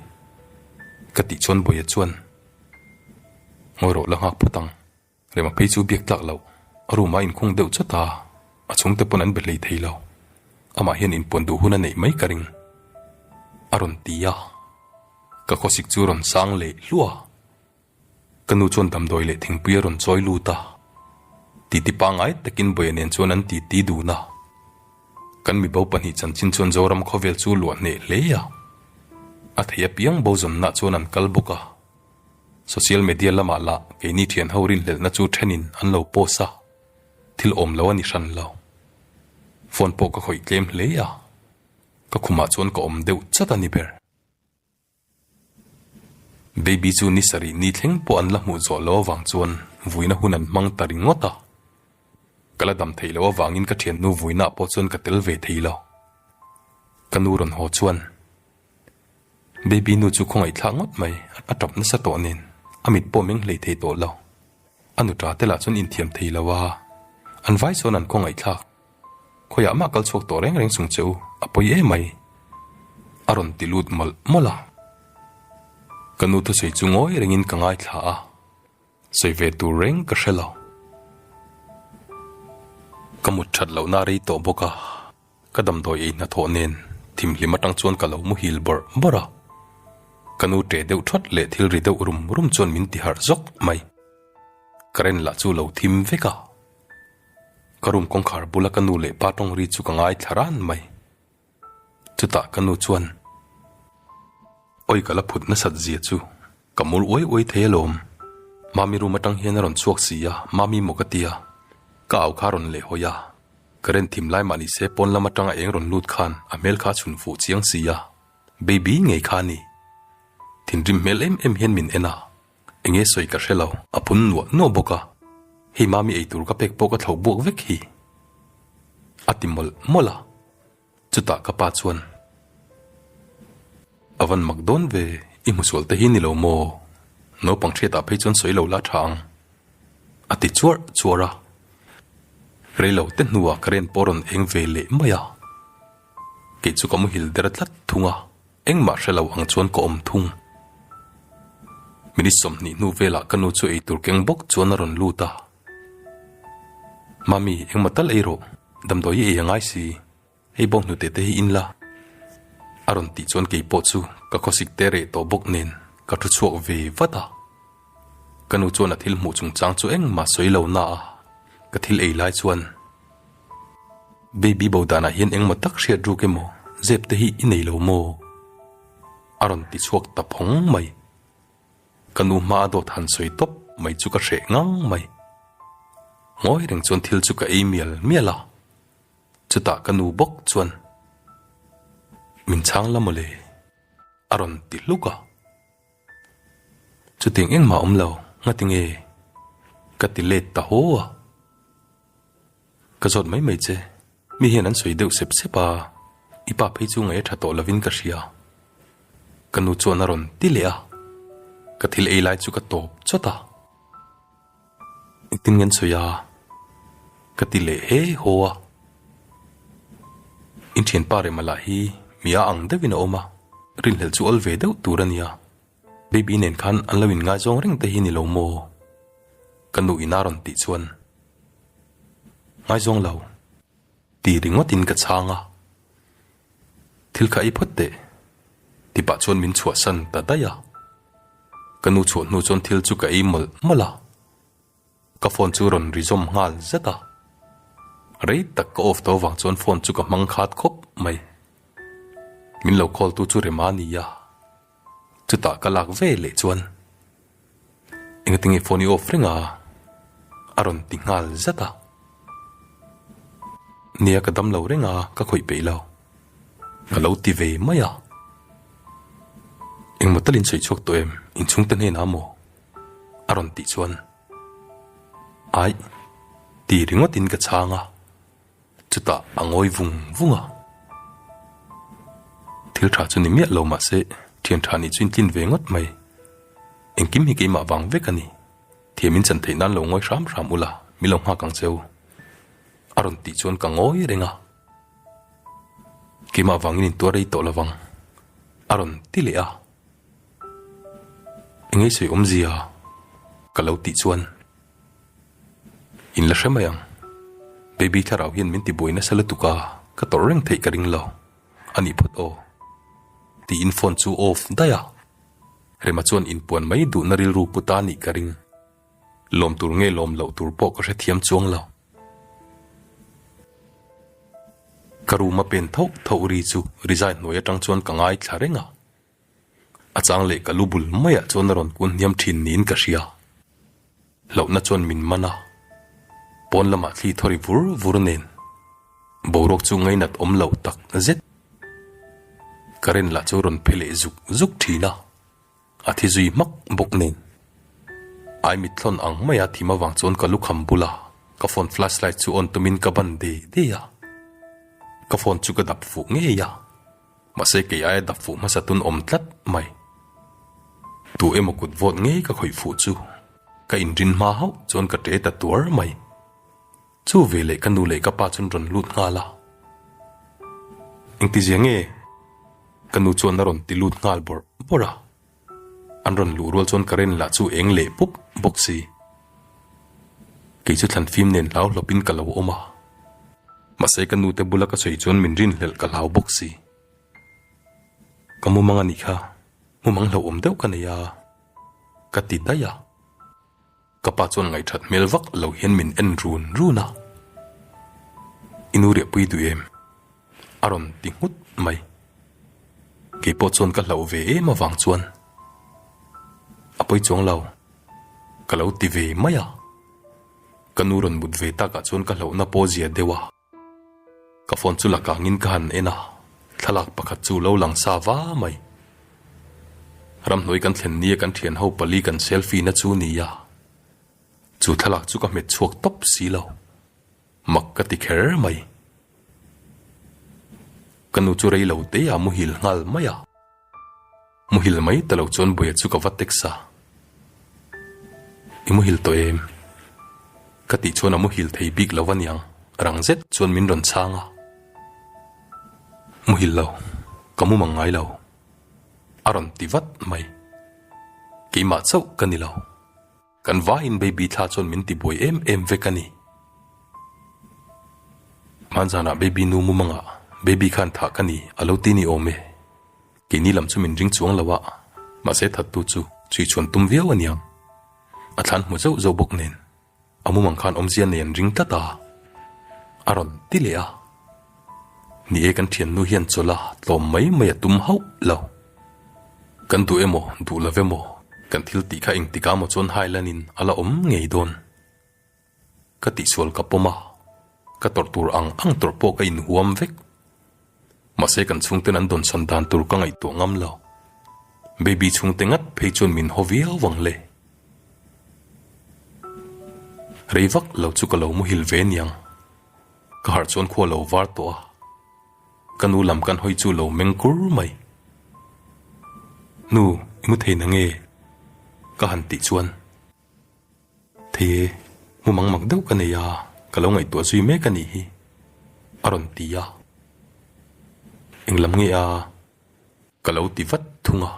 ka tih chuan Bawia chuan, Ngawi rawh la nghak phawt ang. Rema phei chu biak tlak loh a room ah inkhung deuh chawt a, a chhung te pawn an be hlei thei lo. Amah hian inpuan duh hun a neih mai ka ring. A rawn ti a, ka khawsik chu rawn sang leh hluah. Ka nu chuan damdawi leh thingpui a rawn chawi lut a, titi pangngai takin bawihah nen chuan an titi dun a. Kan mibo pahnih chanchin chuan Zoram khawvel chu luah hneh hle a, a thei apiang bo zawnna chuan an kal bawk a. Social media lamah lah keini thian ho rinhlelhna chu thenin an lo post a, thil awm lo a ni hran lo. Phone pawh ka khawih tlem hle a, ka khumah chuan ka awm deuh chat a ni ber. Baby chu ni sarih ni thleng pawh an la hmuh zawh lo avang chuan vuina hun an hmang ta ringawt a, ka la dam theih loh avangin ka thiannu vuinah pawh chuan ka tel ve thei lo. Ka nu rawn haw chuan Baby nu chu khawngaihthlak ngawt mai, a tap nasa tawh nen a mit pawh meng hlei thei tawh lo. A nu ṭa te lah chuan inthiam thei lo a, an vai sawn an khawngaihthlak. Khawiah mah kal chhuak tawh reng reng sung che u, a pawi e mai. A rawn ti lut mawlh mawlh a. Ka nu thusawi chu ngawi rengin ka ngaithla a, sawi ve tur reng ka hre lo. Ka mut that lohna a rei tawh bawk a, ka damdawi ei hnathawh nen thimhlim atang chuan ka lo muhil bawrh bawrh a. Ka nu ṭe deuh ṭhawt leh thil ri deuh rum rum chuan min ti harh zawk mai. Ka ren lah chu lo thim vek a. Ka room kawngkhar bula ka nu leh pa tawngri chu ka ngai thla ran mai. Chutah ka nu chuan awi ka la phut nasat zia chu ka mul uai uai thei alawm. Mami room atang hian a rawn chhuak si a, Mami maw ka tia, ka au kha a rawn leh hawi a. Ka ren thim lai mah nise pawn lam atang a eng rawn lut khan a hmel kha a chhun fuh chiang si a, Baby ngei kha ni. Thinrim hmel em em hian min en a, Enge sawi ka hrelo. A pun nuah nuah bawk a, hei Mami eitur ka pek pawh ka thloh buak vek hi. A ti mawlh mawlh a, chutah ka pa chuan, A van mak dawn ve i hmusual te hi ni lo maw, naupang thiatah phei chuan sawi lo la tha ang. A ti chuar chuar a, rei lo te hnuah ka ren pawh a rawn eng ve leh mai a, kei chu ka muhil der tlat thung a. Engmah hre lo ang chuan ka awm thung. Minute sawmhnih hnu velah ka nu chu eitur keng bawk chuan a rawn lut a, Mummy, engmah tal erawh damdawi hi ei a ngai si, hei bo hnute te hi in la, a rawn tih chuan kei pawh chu ka khawsik te reh tawh bawk nen ka thu chhuak ve vat a. Ka nu chuan a thil hmuh chungchang chu engmah sawi lo na a, ka thil ei lai chuan, Baby bo danah hian engmaw tak hriat ruk emaw zep te hi i nei lo maw? a rawn ti chhuak ta phawng mai. Ka nu hmaa dawt han sawi tawp mai chu ka hreh ngang mai. Ngawi reng chuan thil chu ka ei mial mial a, chutah ka nu bawk chuan, Min chhang la mawle, a rawn ti hluk a. Chutiang engmah awm lo ngati nge? Ka ti let ta haw a. Ka zawt mai mai che, mi hian an sawi deuh sep sep a, i pa phei chu ngaia tha tawh lovin ka hria. Ka nu chuan a rawn ti leh a, ka thil ei lai chu ka tawp chawt a. I tin ngen sawi a, ka ti leh he haw a. In thianpa remah lah hi mi a ang deuhin a awm a, rilhlelh chu awl ve deuh tur a nia. Baby nen khan an lo in ngai zawng reng te hi ni lo maw? Ka nu Ina rawn tih chuan, Ngai zawng lo. Ti ringawtin ka chhang a, thil kha ei phawt teh ti pah chuan min chhuah san ta daih a, ka nu chhuah hnu chuan thil chu ka ei mawlh mawlh a, ka phone chu rawn rizawm nghal zet a, rei tak ka off tawh avang chuan phone chu ka hmang khat khawp mai, min lo call tu chu rema nia Chutah ka lak ve leh chuan engtin nge phone i off reng a? A rawn ti nghal zat a. Nia ka damlo reng a, ka khawih peih lo. Ka lo ti ve mai a. Engmaw tal in sawi chhuak tawh em inchhungte hnenah maw? A rawn tih chuan, Aih, ti ringawt in ka chhang a. Chutah a ngawi vung vung a. Thil tha chu ni miah lo mahse thian tha nih chu in tlin ve ngawt mai. Engkim hi keimah vang vek a ni. Thiam in chan theih nan lo ngawi hram hram ula mi lo nghak ang che u. A rawn tih chuan ka ngawi reng a. Keimah vangin in tuar rei tawh lo vang. A rawn ti leh a. Engei sawi awmzia ka lo tih chuan In la hre mai ang. Baby thlarau hian min tibuai nasa lutuk a, ka tawrh reng theih ka ring lo. A nih phawt aw. Tiin phone chu off daih a. Rema chuan in puan mai duhna rilru put a nih ka ring. Lawm tur nge lawm loh tur pawh ka hrethiam chuang lo. Ka room a pen tho tho ri chu resign hnuai atang chuan ka ngaithla reng a. A chang leh ka lu bul maiah chuan a rawn kun hniam thin niin ka hria. Lohna chuan min man a, pawn lamah thli thaw ri vur vur nen. Boruak chu ngainat awm lo tak zet. Ka ren lah chu a rawn phe leh zuk zuk thin a, a thi zui hmak bawk nen. Ai mitthlawn ang mai a thim avang chuan ka lukham bula ka phone flashlight chu on tumin ka ban de de a. Ka phone chu ka dap fuh ngei a. Mahse kei aia dap fuh hmasa tun awm tlat mai. Tu emaw kut vawt ngei ka khawih fuh chu ka inrin hma hauh chuan ka ṭe ta tuar mai. Chu ve leh ka nu leh ka pa chuan rawn lut nghal a. Engtizia nge? Ka nu chuan a rawn ti lut nghal bawrh bawrh a. An rawn luh rual chuan ka ren lah chu eng leh pup bawk si. Kei chu thlan fim nen hlau hlawp in ka lo awm a. Mahse ka nu te bula ka chei chuan min rin hlelh ka hlau bawk si. Ka mumang a nih kha, mumang hlauhawm deuh ka nei a, ka ti daih a. Ka pa chuan ngaihthat hmel vak lo hian min en run run a, I nu riahpui duh em? a rawn ti nghut mai. Keipawh chuan ka hlauh ve em avang chuan, A pawi chuang lo, ka lo ti ve mai a. Ka nu rawn mut ve takah chuan ka hlauhna pawh zia deuh a. Ka phone chu lak angin ka han en a, thlalak pakhat chu lo lang sa va mai. Ramhnuai kan thlen nia kan thian ho pali kan selfie na chu nia. Chu thlalak chu ka hmet chhuak tawp si lo. Mak ka ti kher mai. Ka nu chu rei lo te a muhil nghal mai a. Muhil mai ta lo chuan buia chu ka va text a, I muhil tawh em? ka tih chuan a muhil thei bik lo aniang rang zet chuan min rawn chhang a, muhil lo, ka mu mang ngai lo a rawn ti vat mai, keimah chauh ka ni lo. Kan vai in baby thla chuan min ti buai em em vek a ni. Hmaan zan ah baby nu mumang ah baby khan thah ka ni a lo ti ni awm e. Keini lam chu min ring chuang lo a, mahse that tu chu chhui chhuan tum viau a niang. A thlan hmu zeuh zeuh bawk nen a mumang khan awmzia nei an ring tlat a, a rawn ti leh a. Ni e kan thiannu hian chawla tlawm mai mai a tum hauh lo. Kan duh e maw duh lo ve maw kan thil tih kha eng tik a maw chuan Hailan in a la awm ngei dawn. Ka tihsual ka pawm a, ka tawrh tur ang ang tawrh pawh ka inhuam vek. Mahse kan chhungten an dawnsan dan tur ka ngaihtuah ngam lo. Baby chhungte ngat phei chuan min haw viau vang le. Rei vak lo chu ka lo muhil ve niang. Ka harh chuan khua lo var tawh a, ka nu lam kan hawi chu lo meng kur mai. Nu, i mu thei na nge? Ka han tih chuan, Thei e, mu mang mak deuh ka nei a, ka lo ngaihtuah zui mek a nih hi, a rawn ti a. Eng lam nge a? Ka lo ti vat thung a.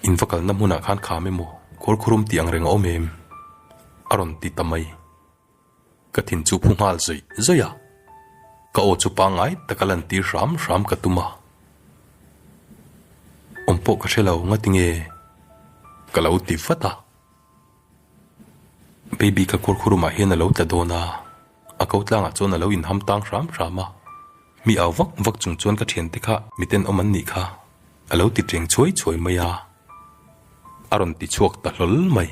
In va kalna hmunah khan kham emaw, khawl khurum tih angreng a awm em? a rawn ti ta mai. Ka thin chu phu nghal zaih zaih a, ka aw chu pangai taka lan tir hram hram ka tum a, awm pawh ka hre lo ngati nge ka lo ti vat a, baby ka kawr khurum ah hian a lo tla dawn a, a ko tlang ah chuan a lo in ham tang hram hram a, mi au vak vak chung chuan ka thian te kha miten awm an nih kha a lo ti tleng chhuai chhuai mai a, a rawn ti chhuak ta hlawl mai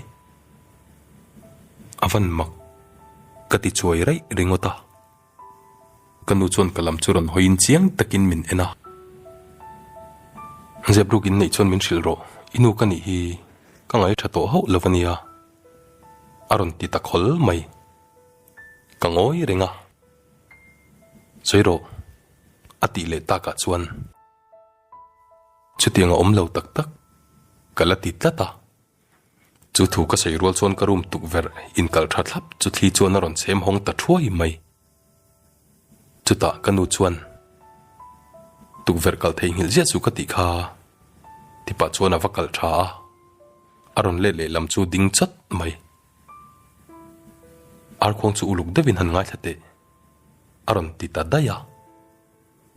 A van mak ka ti chuai raih ringawt a, ka nu chuan ka lam chu rawn hawiin chiang takin min en a. Zebruk in neih chuan min hrilh rawh, i nu ka nih hi ka ngai tha tawh hauh lo ania a rawn ti ta khawl mai. Ka ngawi reng a, sawi rawh a tih leh takah chuan chutianga awm lo tak tak ka la ti tlat a, Chu thu ka sawi rual chuan ka room tukverh inkal tha thlap chu thli chuan a rawn chhem hawng ta thuai mai. Chutah ka nu chuan, Tukverh kal theihnghilh ziah chu ka tih kha, tipah chuan a va kal tha a, a rawn let lehlam chu ding chat mai. Arkhuang chu uluk deuhin han ngaithla teh, a rawn ti ta daih a,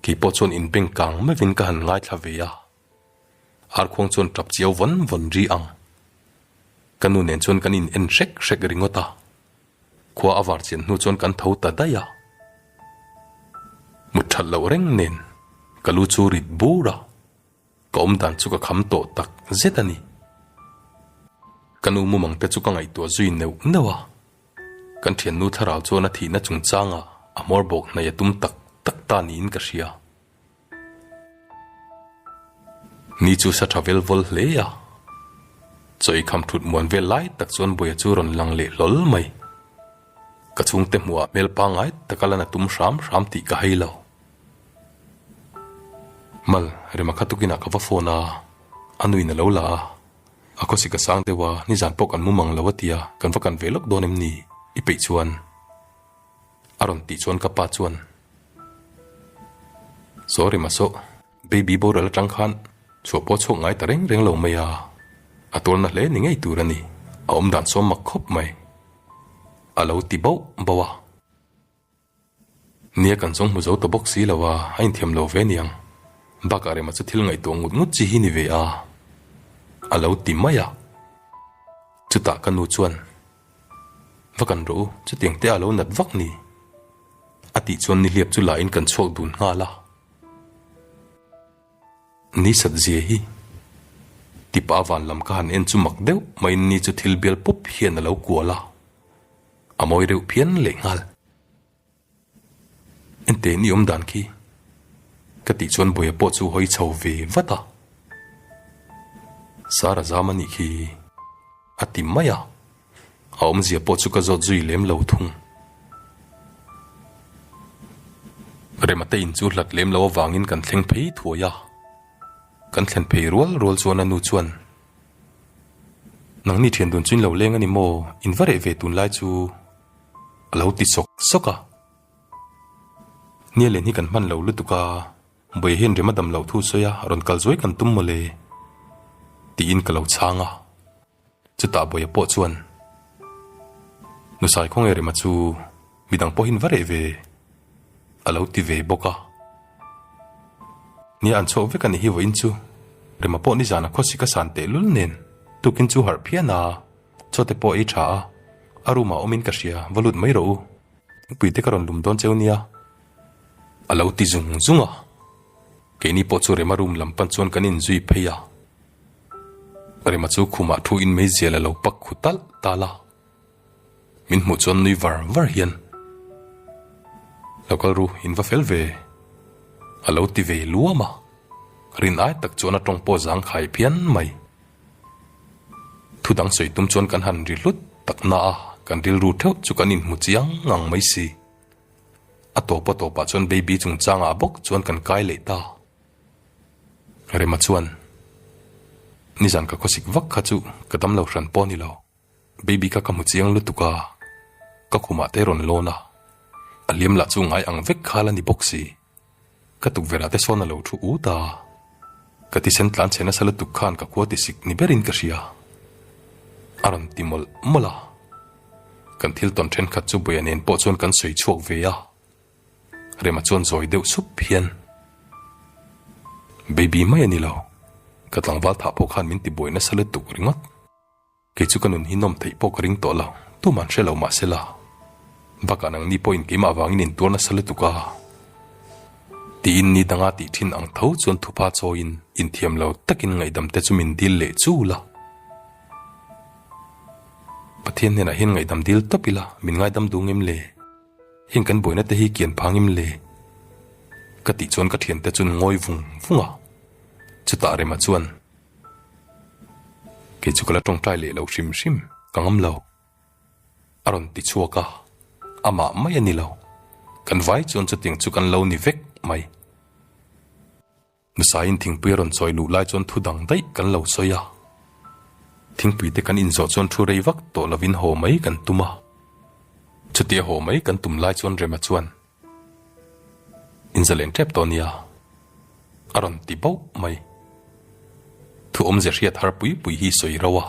keipawh chuan inbeng kang mevin ka han ngaithla ve a. Arkhuang chuan tap chiau vawn vawn ri ang. Ka nu nen chuan kan in en hrek hrek ringawt a. Khua a var chian hnu chuan kan tho ta daih a. Mut that loh reng nen ka lu chu rit bur a, ka awmdan chu ka kham tawh tak zet a ni. Ka nu mumang te chu ka ngaihtuah zui neuh neuh a. Kan thiannu thlarau chuan a thihna chungchangah a hmawr bawk hnaih a tum tak tak ta niin ka hria. Ni chu sa tha vel vawl hle a, chawi kham thut muan vel lai tak chuan Buaia chu rawn lang leh hlawl mai. Ka chhungte hmuhah hmel pangngai taka lan a tum hram hram tih ka hei lo. Mal, rema kha tukinah ka va phone a, a nuin a lo la a, a khawsi ka sang deuh a, nizan pawh kan mum ang lo a tia kan va kan ve lawk dawn em ni? I peih chuan. A rawn tih chuan ka pa chuan, Sorry mahsawh, baby boral atang khan chhuah pawh chhawk ngai ta reng reng lo mai a, a tawlna hle ni ngei tur a ni, a awm dan sawm mak khawp mai. A lo ti bauh bauh a. Nia kan zawng hmu zo ta bawk si lo a, a inthiam lo ve niang. Bakah rema chu thil ngaihtuah ngut ngut chi hi ni ve a, a lo ti mai a. Chutah ka nu chuan. Va kan rawh u, chutiang te alo nat vak ni? a tih chuan nihliap chu laiin kan chhuak dun nghal a. Ni satzia hi tipa van lam ka han en chu mak deuh mahin ni chu thil bial pup hian alo kual a, a mawi reuh phian leh nghal. Enteh ni awm dan khi ka tih chuan Buaia pawh chu hawi chho ve vat a. Sara zam a nih khi a ti mai a, a awmzia pawh chu ka zawt zui lem lo thung. Remate in chu hlat lem lo avangin kan thleng phei thuai a, kan thlen phei rual rual chuan a nu chuan, Nangni thian dun chu in lo leng a ni maw, in va reh ve tun lai chu, A lo ti sawk sawk a. Nialen hi kan hman lo lutuk a, Bawia hian rem a dam loh thu sawi a, rawn kal zuai kan tum mawle. Tiin ka lo chhang a. Chutah Bawia pawh chuan, Nu sai khawnge rema chu midang pawh hin va reh ve? A lo ti ve bawk a. Nia an chhuak vek a nih hi vawiin chu, rema pawh nizan a khawsik a san tehlul nen, tukin chu harh phian a, Chawte pawh ei tha a, a room ah awmin ka hria, va lut mai rawh u. Nupui te ka rawn lum dawn cheu nia a lo ti zung zung a, keini pawh chu Rema room lam pan chuan kan in zui phei a, Rema chu khumah thu in mai zel a lo pak khu tal tal a, min hmuh chuan nui var var hian lo kal ru in va fel ve a lo ti ve luam a, rin ai tak chuan a tawng pawh zang khai phian mai. Thudang sawi tum chuan kan han ri hlut tak na a, kan rilru theuh chu kan inhmu chiang ang mai si. A tawpa tawpah chuan baby chungchangah bawk chuan kan kai leh ta. Rema chuan, Nizan ka khawsik vak kha chu ka dam lo hran pawh ni lo, baby kha ka hmu chiang lutuk a, ka khumah te rawn lawn a, a hliam lah chu ngai ang vek khal a ni bawk si. Ka tukverh ah te sawn a lo thu u ta. Ka tisen tlan chhe nasa lutuk khan ka khua tisik ni berin ka hria. A rawn ti mawlh mawlh a. Kan thil tawn thenkhat chu Buaia nen pawh chuan kan sawi chhuak ve a. Rema chuan zawi deuh sup hian. Baby mai a ni lo. Ka tlangval thah pawh khan min ti buai nasa lutuk ringawt. Kei chu ka nun hi nawm theih pawh ka ring tawh lo, tum an hre lo mah se la, bakah nang ni pawhin keimah vangin in tuar nasa lutuk a. Tiin ni danga tih thin ang tho chuan thupa chawiin inthiam lo takin ngaihdam te chu min dil leh chul a. Pathian hnenah hian ngaihdam dil tawp ila min ngaidam dung em le, heng kan buaina te hi kian phang em le? Ka tih chuan ka thiante chun ngawi vung vung a, chutah remah chuan. Kei chu ka la tawngtai leh lo hrim hrim, ka ngam lo. A rawn ti chhuak a, amah mai a ni lo. Kan vai chuan chutiang chu kan lo ni vek mai. Nasaiin thingpui a rawn chawi luh lai chuan thu dang daih kan lo sawi a. Thingpui te kan inzawh chuan thu rei vak tawh lovin haw mai kan tum a. Chuti a haw mai kan tum lai chuan Rema chuan Inzaleng tep tawh nia a rawn ti bauh mai. Thuawmze hriat har pui pui hi sawi rauh a,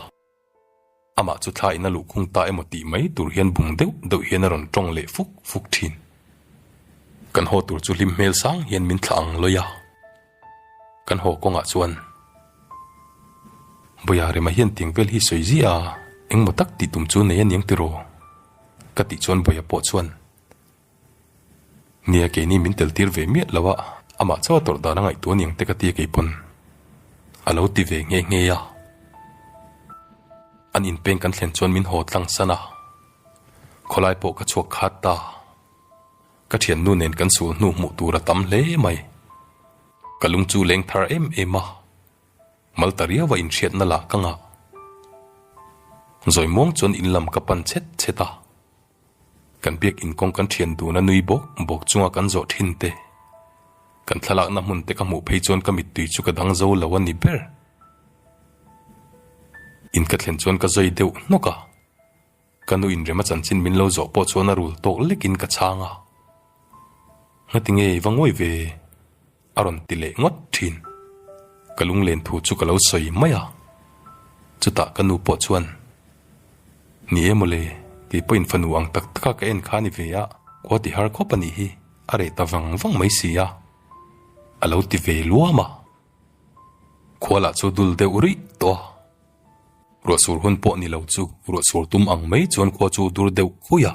amah chu thla in a luhkhung ta emaw tih mai tur hian bung deuh deuh hian a rawn tawng leh fuk fuk thin. Kan haw tur chu hlim hmel sang hian min thlah ang lawih a, kan haw kawngah chuan Bawia rema hian tiang vel hi sawi ziah a, engmaw tak tih tum chu nei aniang tiraw? ka tih chuan Bawia pawh chuan Nia keini min tel tir ve miah lo a, amah chu a tawrh dan a ngaihtuah aniang te ka ti a kei pawn a lo ti ve nghe nghe a. An in peng kan thlen chuan min haw tlang san a, khawlai pawh ka chhuak khat ta, ka thiannu nen kan sul hnu hmuh tur a tam hle mai. Ka lung chu leng thar em em a, mal ta riau a inhriat na lah ka ngah. Zawi muang chuan in lam ka pan chet chet a. Kan biakinn kawng kan thian dun a nui bawk bawk chunga kan zawh thin te, kan thlalakna hmun te ka hmuh phei chuan ka mittui chu ka dang zo lo a ni ber. In ka thlen chuan ka zawi deuh hnawk a, ka nu inrem a chanchin min lo zawh pawh chuan a rul tawk lekin ka chhang a, Ngati ngei va ngawih ve, A rawn ti leh ngawt thin. Ka lunglen thu chu ka lo sawi mai a, chutah ka nu pawh chuan, Ni e mawle, kei pawhin fanu ang tak taka ka en kha a ni ve a, khua ti har khawp a nih hi, a reh ta vang vang mai si a, a lo ti ve luam a. Khua lah chu dul deuh rih tawh a, ruahsur hun pawh ni lo chu ruahsur tum ang mai chuan khua chu dur deuh khui a,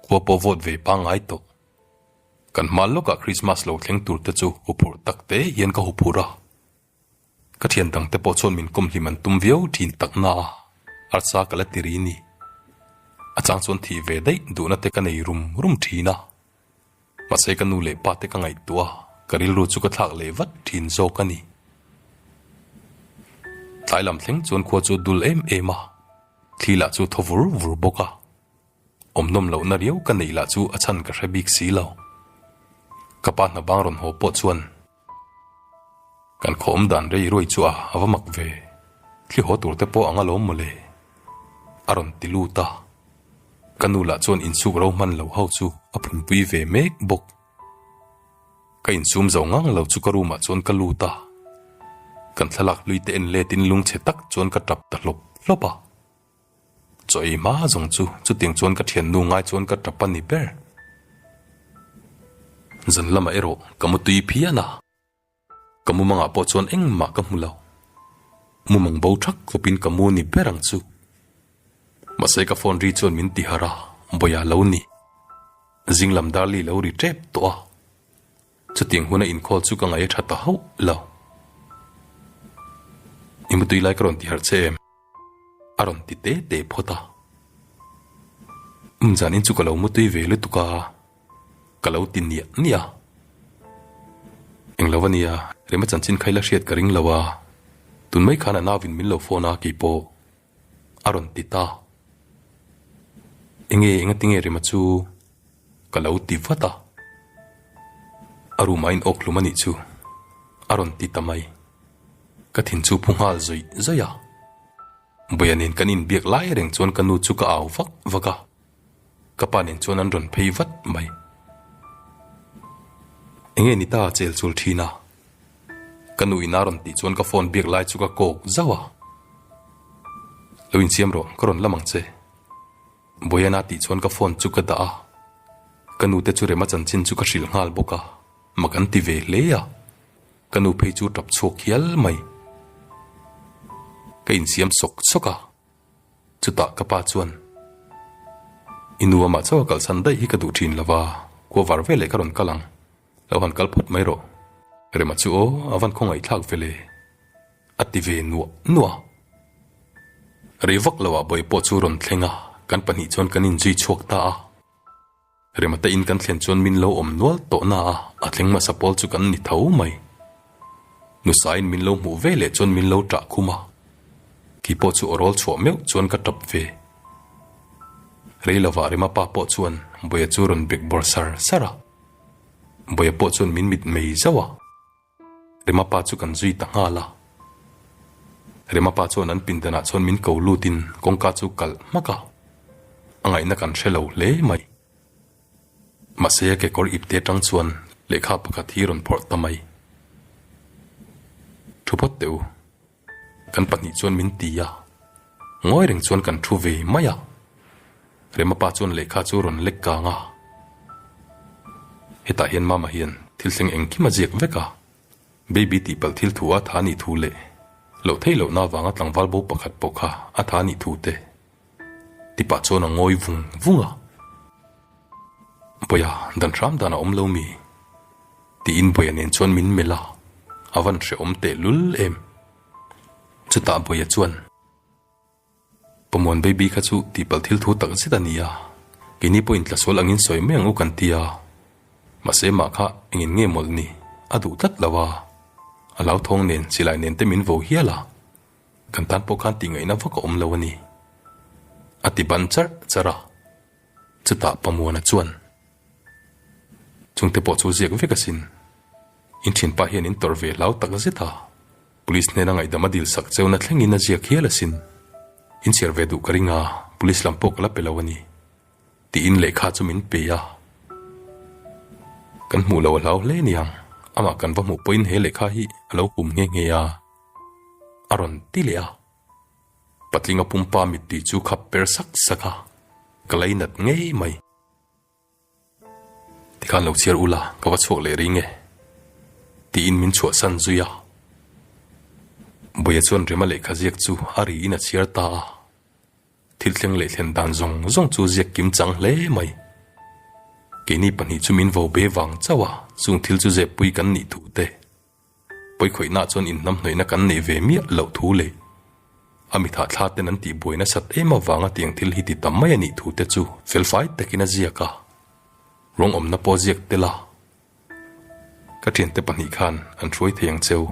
khua pawh vawt ve pangngai tawh. Kan hmal lawkah Krismas lo thleng tur te chu huphurh tak te hian ka huphurh a, ka thian dang te pawh chuan min kawm hlim an tum viau thin tak na a, arsa ka la ti ri ni. A chang chuan thih ve daih duhna te ka nei rum rum thin a, mahse ka nu leh pa te ka ngaihtuah a, ka rilru chu ka thlak leh vat thin zawk a ni. Tlai lam thleng chuan khua chu a dul em em a, thli lah chu a thaw vur vur bawk a. Awmnawm lohna riau ka neih lah chu a chhan ka hre bik si lo. Ka pa hna bang rawn haw pawh chuan kan khawawm dan rei ruai chu a va mak ve. Thli haw tur te pawh a nga lawm mawle. A rawn ti lut a. Ka nu lah chuan insuk ro hman lo ho chu a phunpui ve mek bawk. Ka insum zo ngang lo chu ka room ah chuan ka lut a. Kan thlalak hlui te en let in lungchhe tak chuan ka tap ta hlawp hlawp a. Chaw ei hma zawng chu chutiang chuan ka thian nu ngai chuan ka tap a ni ber. Zan lamah erawh ka mu tui phian a, ka mu mangah pawh chuan engmah ka hmu lo. Mu mang bo thak khawp in ka mu ni ber ang chu. Mahse ka phone ri chuan min ti harh a, Bawia lo ni. Zinglam darli lo ri tep tawh a. Chutiang huna inkhâwl chu ka ngaih a ṭha ta hauh lo. I mutui lai ka rawn ti harh che em? A rawn ti te te phawt a. Umzan in chu ka lo mutui ve lutuk a, ka lo ti niah niah a. Englo a nia, Remachan chin khaih la hriat ka ring lo a, tun mai khân a nau in min lo phone a kei pawh A rawn ti ta. Enge enga tinge rema chu ka lo ti vat a. A room ah a inawk hlum a nih chu. A rawn ti ta mai. Ka thin chu phu nghal zawih zawih a. Bawihah nen kan inbiak lai reng chuan ka nu chu ka au vak vak a. Ka pa nen chuan an rawn phei vat mai. Enge ni ta chel chul thin a? Ka nu ina rawn tih chuan ka phone biak lai chu ka kawk zauh a. Lo insiam rawh, ka rawn la mang che. Boyana tih chuan ka phone chu ka dah a. Ka nu te chu rema chanchin chu ka hrilh nghal bawk a, mak an ti ve hle a. Ka nu phei chu tap chhuak hial mai. Ka insiam sawk sawk a. Chutah ka pa chuan, I nu amah chauh a kal chhan daih hi ka duh thin lova, khua var ve leh ka rawn kal ang, lo han kal phawt mai rawh, rema chu aw a van khawngaih thlak vele, a ti ve nuah nuah. Rei vak loah Bawipo chu rawn thleng a, kan pahnih chuan kan inzui chhuak ta a. Remate in kan thlen chuan min lo awm nual tawh na a, a thleng masa pawl chu kan ni tho mai. Nusa in min lo hmuh ve leh chuan min lo tah khum a, kei pawh chu awrawl chhuah meuh chuan ka tap ve. Rei lo vah Rema pa pawh chuan Bawia chu rawn bek bawr sar sar a, Bawia pawh chuan min mit mei zauh a. Remapa chu kan zui ta nghal a. Remapa chuan an pindanah chuan min ko lutin kawngka chu kalh hmak a. A ngaihna kan hre lo hle mai. Mahse kekawr ip te tang chuan lehkha pakhat hi rawn phawrh ta mai. Thu phawt teh u. Kan pahnih chuan min ti a, ngawi reng chuan kan thu ve mai a. Rema pa chuan lehkha chu rawn lek kang a. Hetah hian Mama hian thil thleng engkim a ziak vek a. Baby tihpalh thil thu a tha ni thu leh loh thei lohna vanga tlangval bo pakhat pawh kha a tha ni thu te Tipa chuan a ngawi vung vung a, Bawia dan hram dan a awm lo mi? tiin Bawia nen chuan min melh a, a van hrehawm teh lul em. Chutah Bawia chuan, Pamuan baby kha chu tihpalh thil thu tak zet a ni a, keini pawhin tlasual angin sawi mai ang u kan ti a, mahse mah kha engin nge mawlh ni, a duh tlat lo a, a hlauthawng nen silai nen te min vo hial a, Kan tan pawh khan tihngaihna vak a awm lo a ni, a ti ban charh charh a. Chutah Pamuana chuan, Chungte pawh chu ziak vek asin, in thinpa hian in tawrh ve hlau tak zet a, Police hnena ngaihdam a dil sak cheu na thlengin a ziak hial asin, in chhiar ve duh ka ring a, Police lam pawh ka la pe lo a ni, tiin lehkha chu min pe a. Kan hmuh lo a hlau hle niang, amah kan va hmuh pawhin he lehkha hi a lo hum nghe nghe a. A rawn ti leh a, Patlinga pumpa mittui chu khap per sak sak a, ka lei nat ngei mai. Tikhan lo chhiar u la, ka va chhuak leh ring e. Tiin min chhuahsan zui a. Bawia chuan rima lehkha ziak chu a ri in a chhiar ta a, thil thleng leh thlen dan zawng zawng chu ziak kim chang hle mai. Keini pahnih chu min vo be vang chauh a, chung thil chu zep pui kan nih thu te. Pawikhawihnah chuan inhnamhnawihna kan neih ve miah loh thu leh a mithah thla ten an tih buai nasat em avanga tiang thil hi ti ta mai a nih thu te chu felfai takin a ziak a, ruang awmna pawh a ziak tel a, ka thiante pahnih khan an hruai thei ang cheu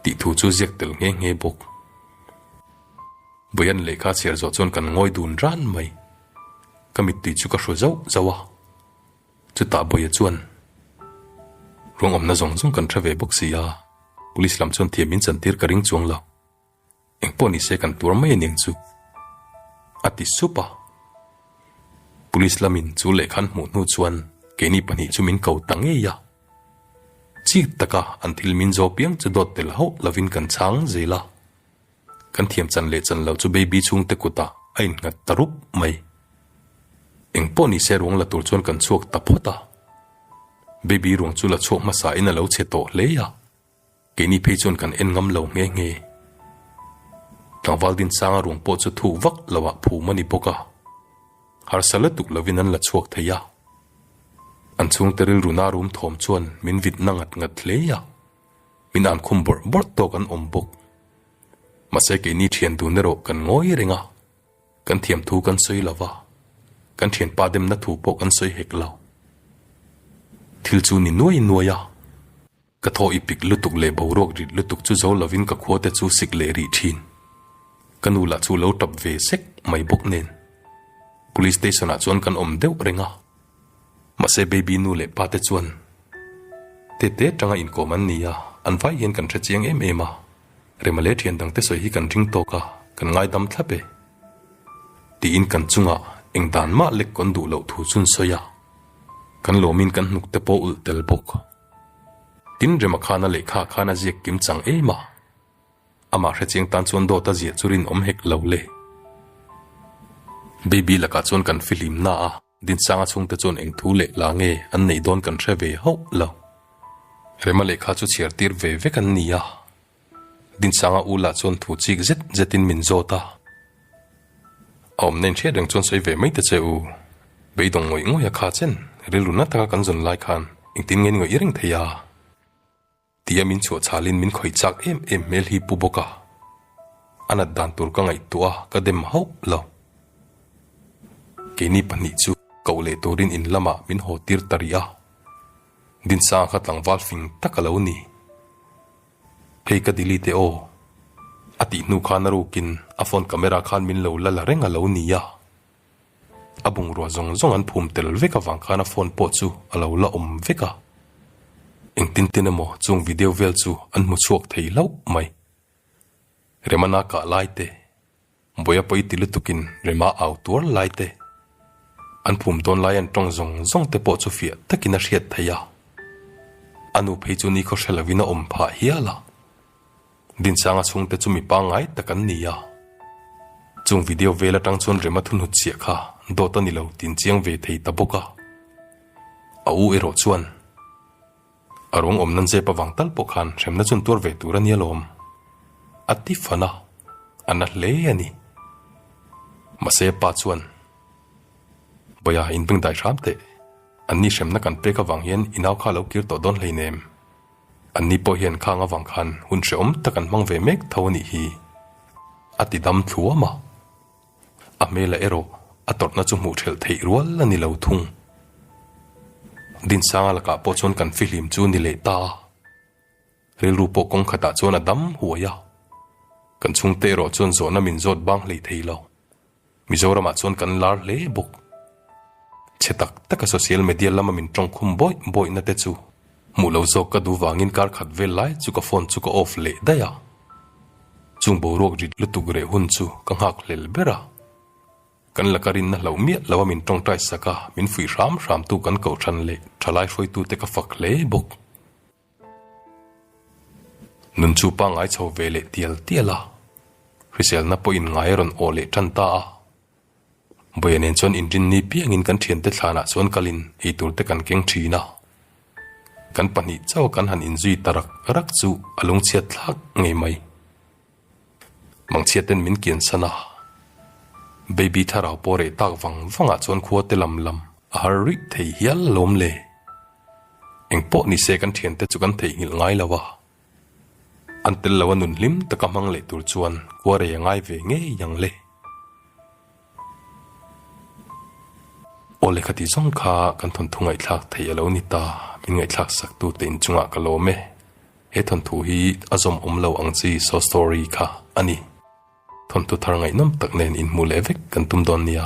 tih thu chu ziak tel nghe nghe bawk. Bawia'n lehkha a chhiar zawh chuan kan ngawi dun ran mai, ka mittui chu ka hru zauh zauh a. Chutah Bawia chuan, Ruang awmna zawng zawng kan hre ve bawk si a, Police lam chuan thiam in chantir ka ring chuang lo, engpawh ni se kan tuar mai a ning chu, a ti sup a. Police lamin chu lehkha an hmuh hnu chuan keini pahnih chu min ko ta ngei a, chik taka an thil min zawh piang chu dawt tel hauh lovin kan chhang zel a, Kan thiam chan leh chan loh chu baby chhungte kutah a innghat ta rup mai. Engpawh nise ruang la tur chuan kan chhuak ta phawt a. Baby ruang chu la chhuak hmasain a lo chhe tawh hle a. Keini phei chuan kan en ngam lo nghe nghe. Tlangval Dinsanga ruang pawh chu thuk vak lohah phum a ni bawk a. Harsa lutuk lovin an la chhuak thei a. An chhungte rilruna rum thawm chuan min vitna ngat ngat hle a. min an khum bawrh bawrh tawk an awm bawk. Mahse keini thian dun erawh kan ngawi reng a, kan thiam thu kan sawi lo va, kan thian pah demna thu pawh kan sawi hek lo. Thil chu ni nuai nuai a, ka thaw ipik lutuk leh boruak rit lutuk chu zo lovin ka khua te chu sik leh rih thin. Ka nu lah chu lo tap ve sek mai bawk nen, Police station ah chuan kan awm deuh reng a. Mahse baby nu leh pa te chuan te te tanga inkawm an ni a, an vai hian kan hre chiang em em a, rema leh thian dangte sawi hi kan ring tawk a, kan ngaidam thlap e. Tiin kan chungah engdan mah lek kawn duh loh thu chun sawi a, kan lawmin kan hnuk te pawh ulh tel bawk. Tin rema khan a lehkha khan a ziak kim chang em a, amah hre chiang tan chuan dawt a zia chu rinawm hek lo le. Baby lakah chuan kan fihlimna a. Dinsanga chhungte chuan eng thu leh la nge an neih dawn kan hre ve hauh lo. Rema leh kha chu chhiar tir ve vek an ni a. Dinsanga u lah chuan thu chik zet zetin min zawt a. A awmna inhriat reng chuan sawi ve mai ta che u. Beidawng ngawih ngawih a kha chen, rilru na taka kan zawn lai khan engtin nge ni ngawih i reng thei a. Tia min chhuahchalin min khawi chak em em hmel hi pu bawka a nat dan tur ka ngaihtuah a, ka dem hauh lo. Keini pahnih chu koh leh turin in lamah min haw tir ta rih a, Dinsanga kha tlangval fing tak a lo ni. Hei ka delete e aw, a tih hnu khan a rukin a phone camera khan min lo la la reng a lo ni a. A bungrua zawng zawng an phum tel vek avang khan a phone pawh chu a lo la awm vek a. Engtin tin emaw chung video vel chu an hmu chhuak thei hlauh mai. Remana kah lai te, Buaia pawi ti lutukin Rema au tuar lai te, an phum dawn lai an tawng zawng zawng te pawh chu fiah takin a hriat thei a. A nu phei chu nikhawhre lovin a awm phah hial a. Binsanga chhungte chu mi pangngai tak an ni a. Chung video vel atang chuan Rema thunhut chiah kha dawt a ni lo tiin chiang ve thei ta bawk a. A u erawh chuan a rawn awm nan zep avang tal pawh khan hremna chuan tuar ve tur a nia lawm. A ti fan a, a na hle a ni. Mahse a pa chuan, Bawia, in bengdai hram teh. Anni hremna kan pek avang hian inau kha a lo kir tawh dawn hleinem. An ni pawh hian khang avang khan hun hrehawm tak an hmang ve mek tho a nih hi, a ti dam thluam a. A hmela erawh a tawrhna chu hmuh ṭhelh theih rual a ni lo thung. Dinsanga lakah pawh chuan kan fihlim chu ni leh ta a, rilru pawh kawng khatah chuan a dam huai a, kan chhungte erawh chuan zawhna min zawt bang hlei thei lo. Mizoramah chuan kan lar hle bawk. Chhe tak taka social media lama min tawng khum bawih bawihna te chu hmuh lo zawk ka duh vangin kar khat vel lai chu ka phone chu ka off leh daih a. Chung boruak ri lutuk reh hun chu ka nghak hlel ber a. Kan laka rinna hloh miah lo a min tawng taisaka min fuih hram hram tu kan koh than leh thalai hruaitu te ka fak hle bawk. Nun chu pangngai chho ve leh tial tial a, hriselna pawh inngai a rawn aw leh tan ta a. Bawihah nen chuan inrin ni piangin kan thiante thlanah chuan kal in eitur te kan keng thin a. Kan pahnih chauh kan han inzui ta rak rak chu a lungchhiat thlak ngei mai. Mangchhiat ten min kian san a, baby tharau pawh reh tak vang vangah chuan khua te lam lam a har rih thei hial alawm le. Eng pawh ni se kan thiante chu kan theih nghilh ngai lo a, an tel lo a nun hlim taka hmang leh tur chuan khua rei a ngai ve ngei ang le. Aw lehkha tih zawng kha kan thawnthu ngaihthlak theih a lo ni ta, min ngaihthlak sak tu te in chungah ka lawm e. He thawnthu hi a zawm awm lo ang chi so sorry kha a ni. Thawnthu thar ngaihnawm tak nen in hmuh leh vek kan tum dawn nia.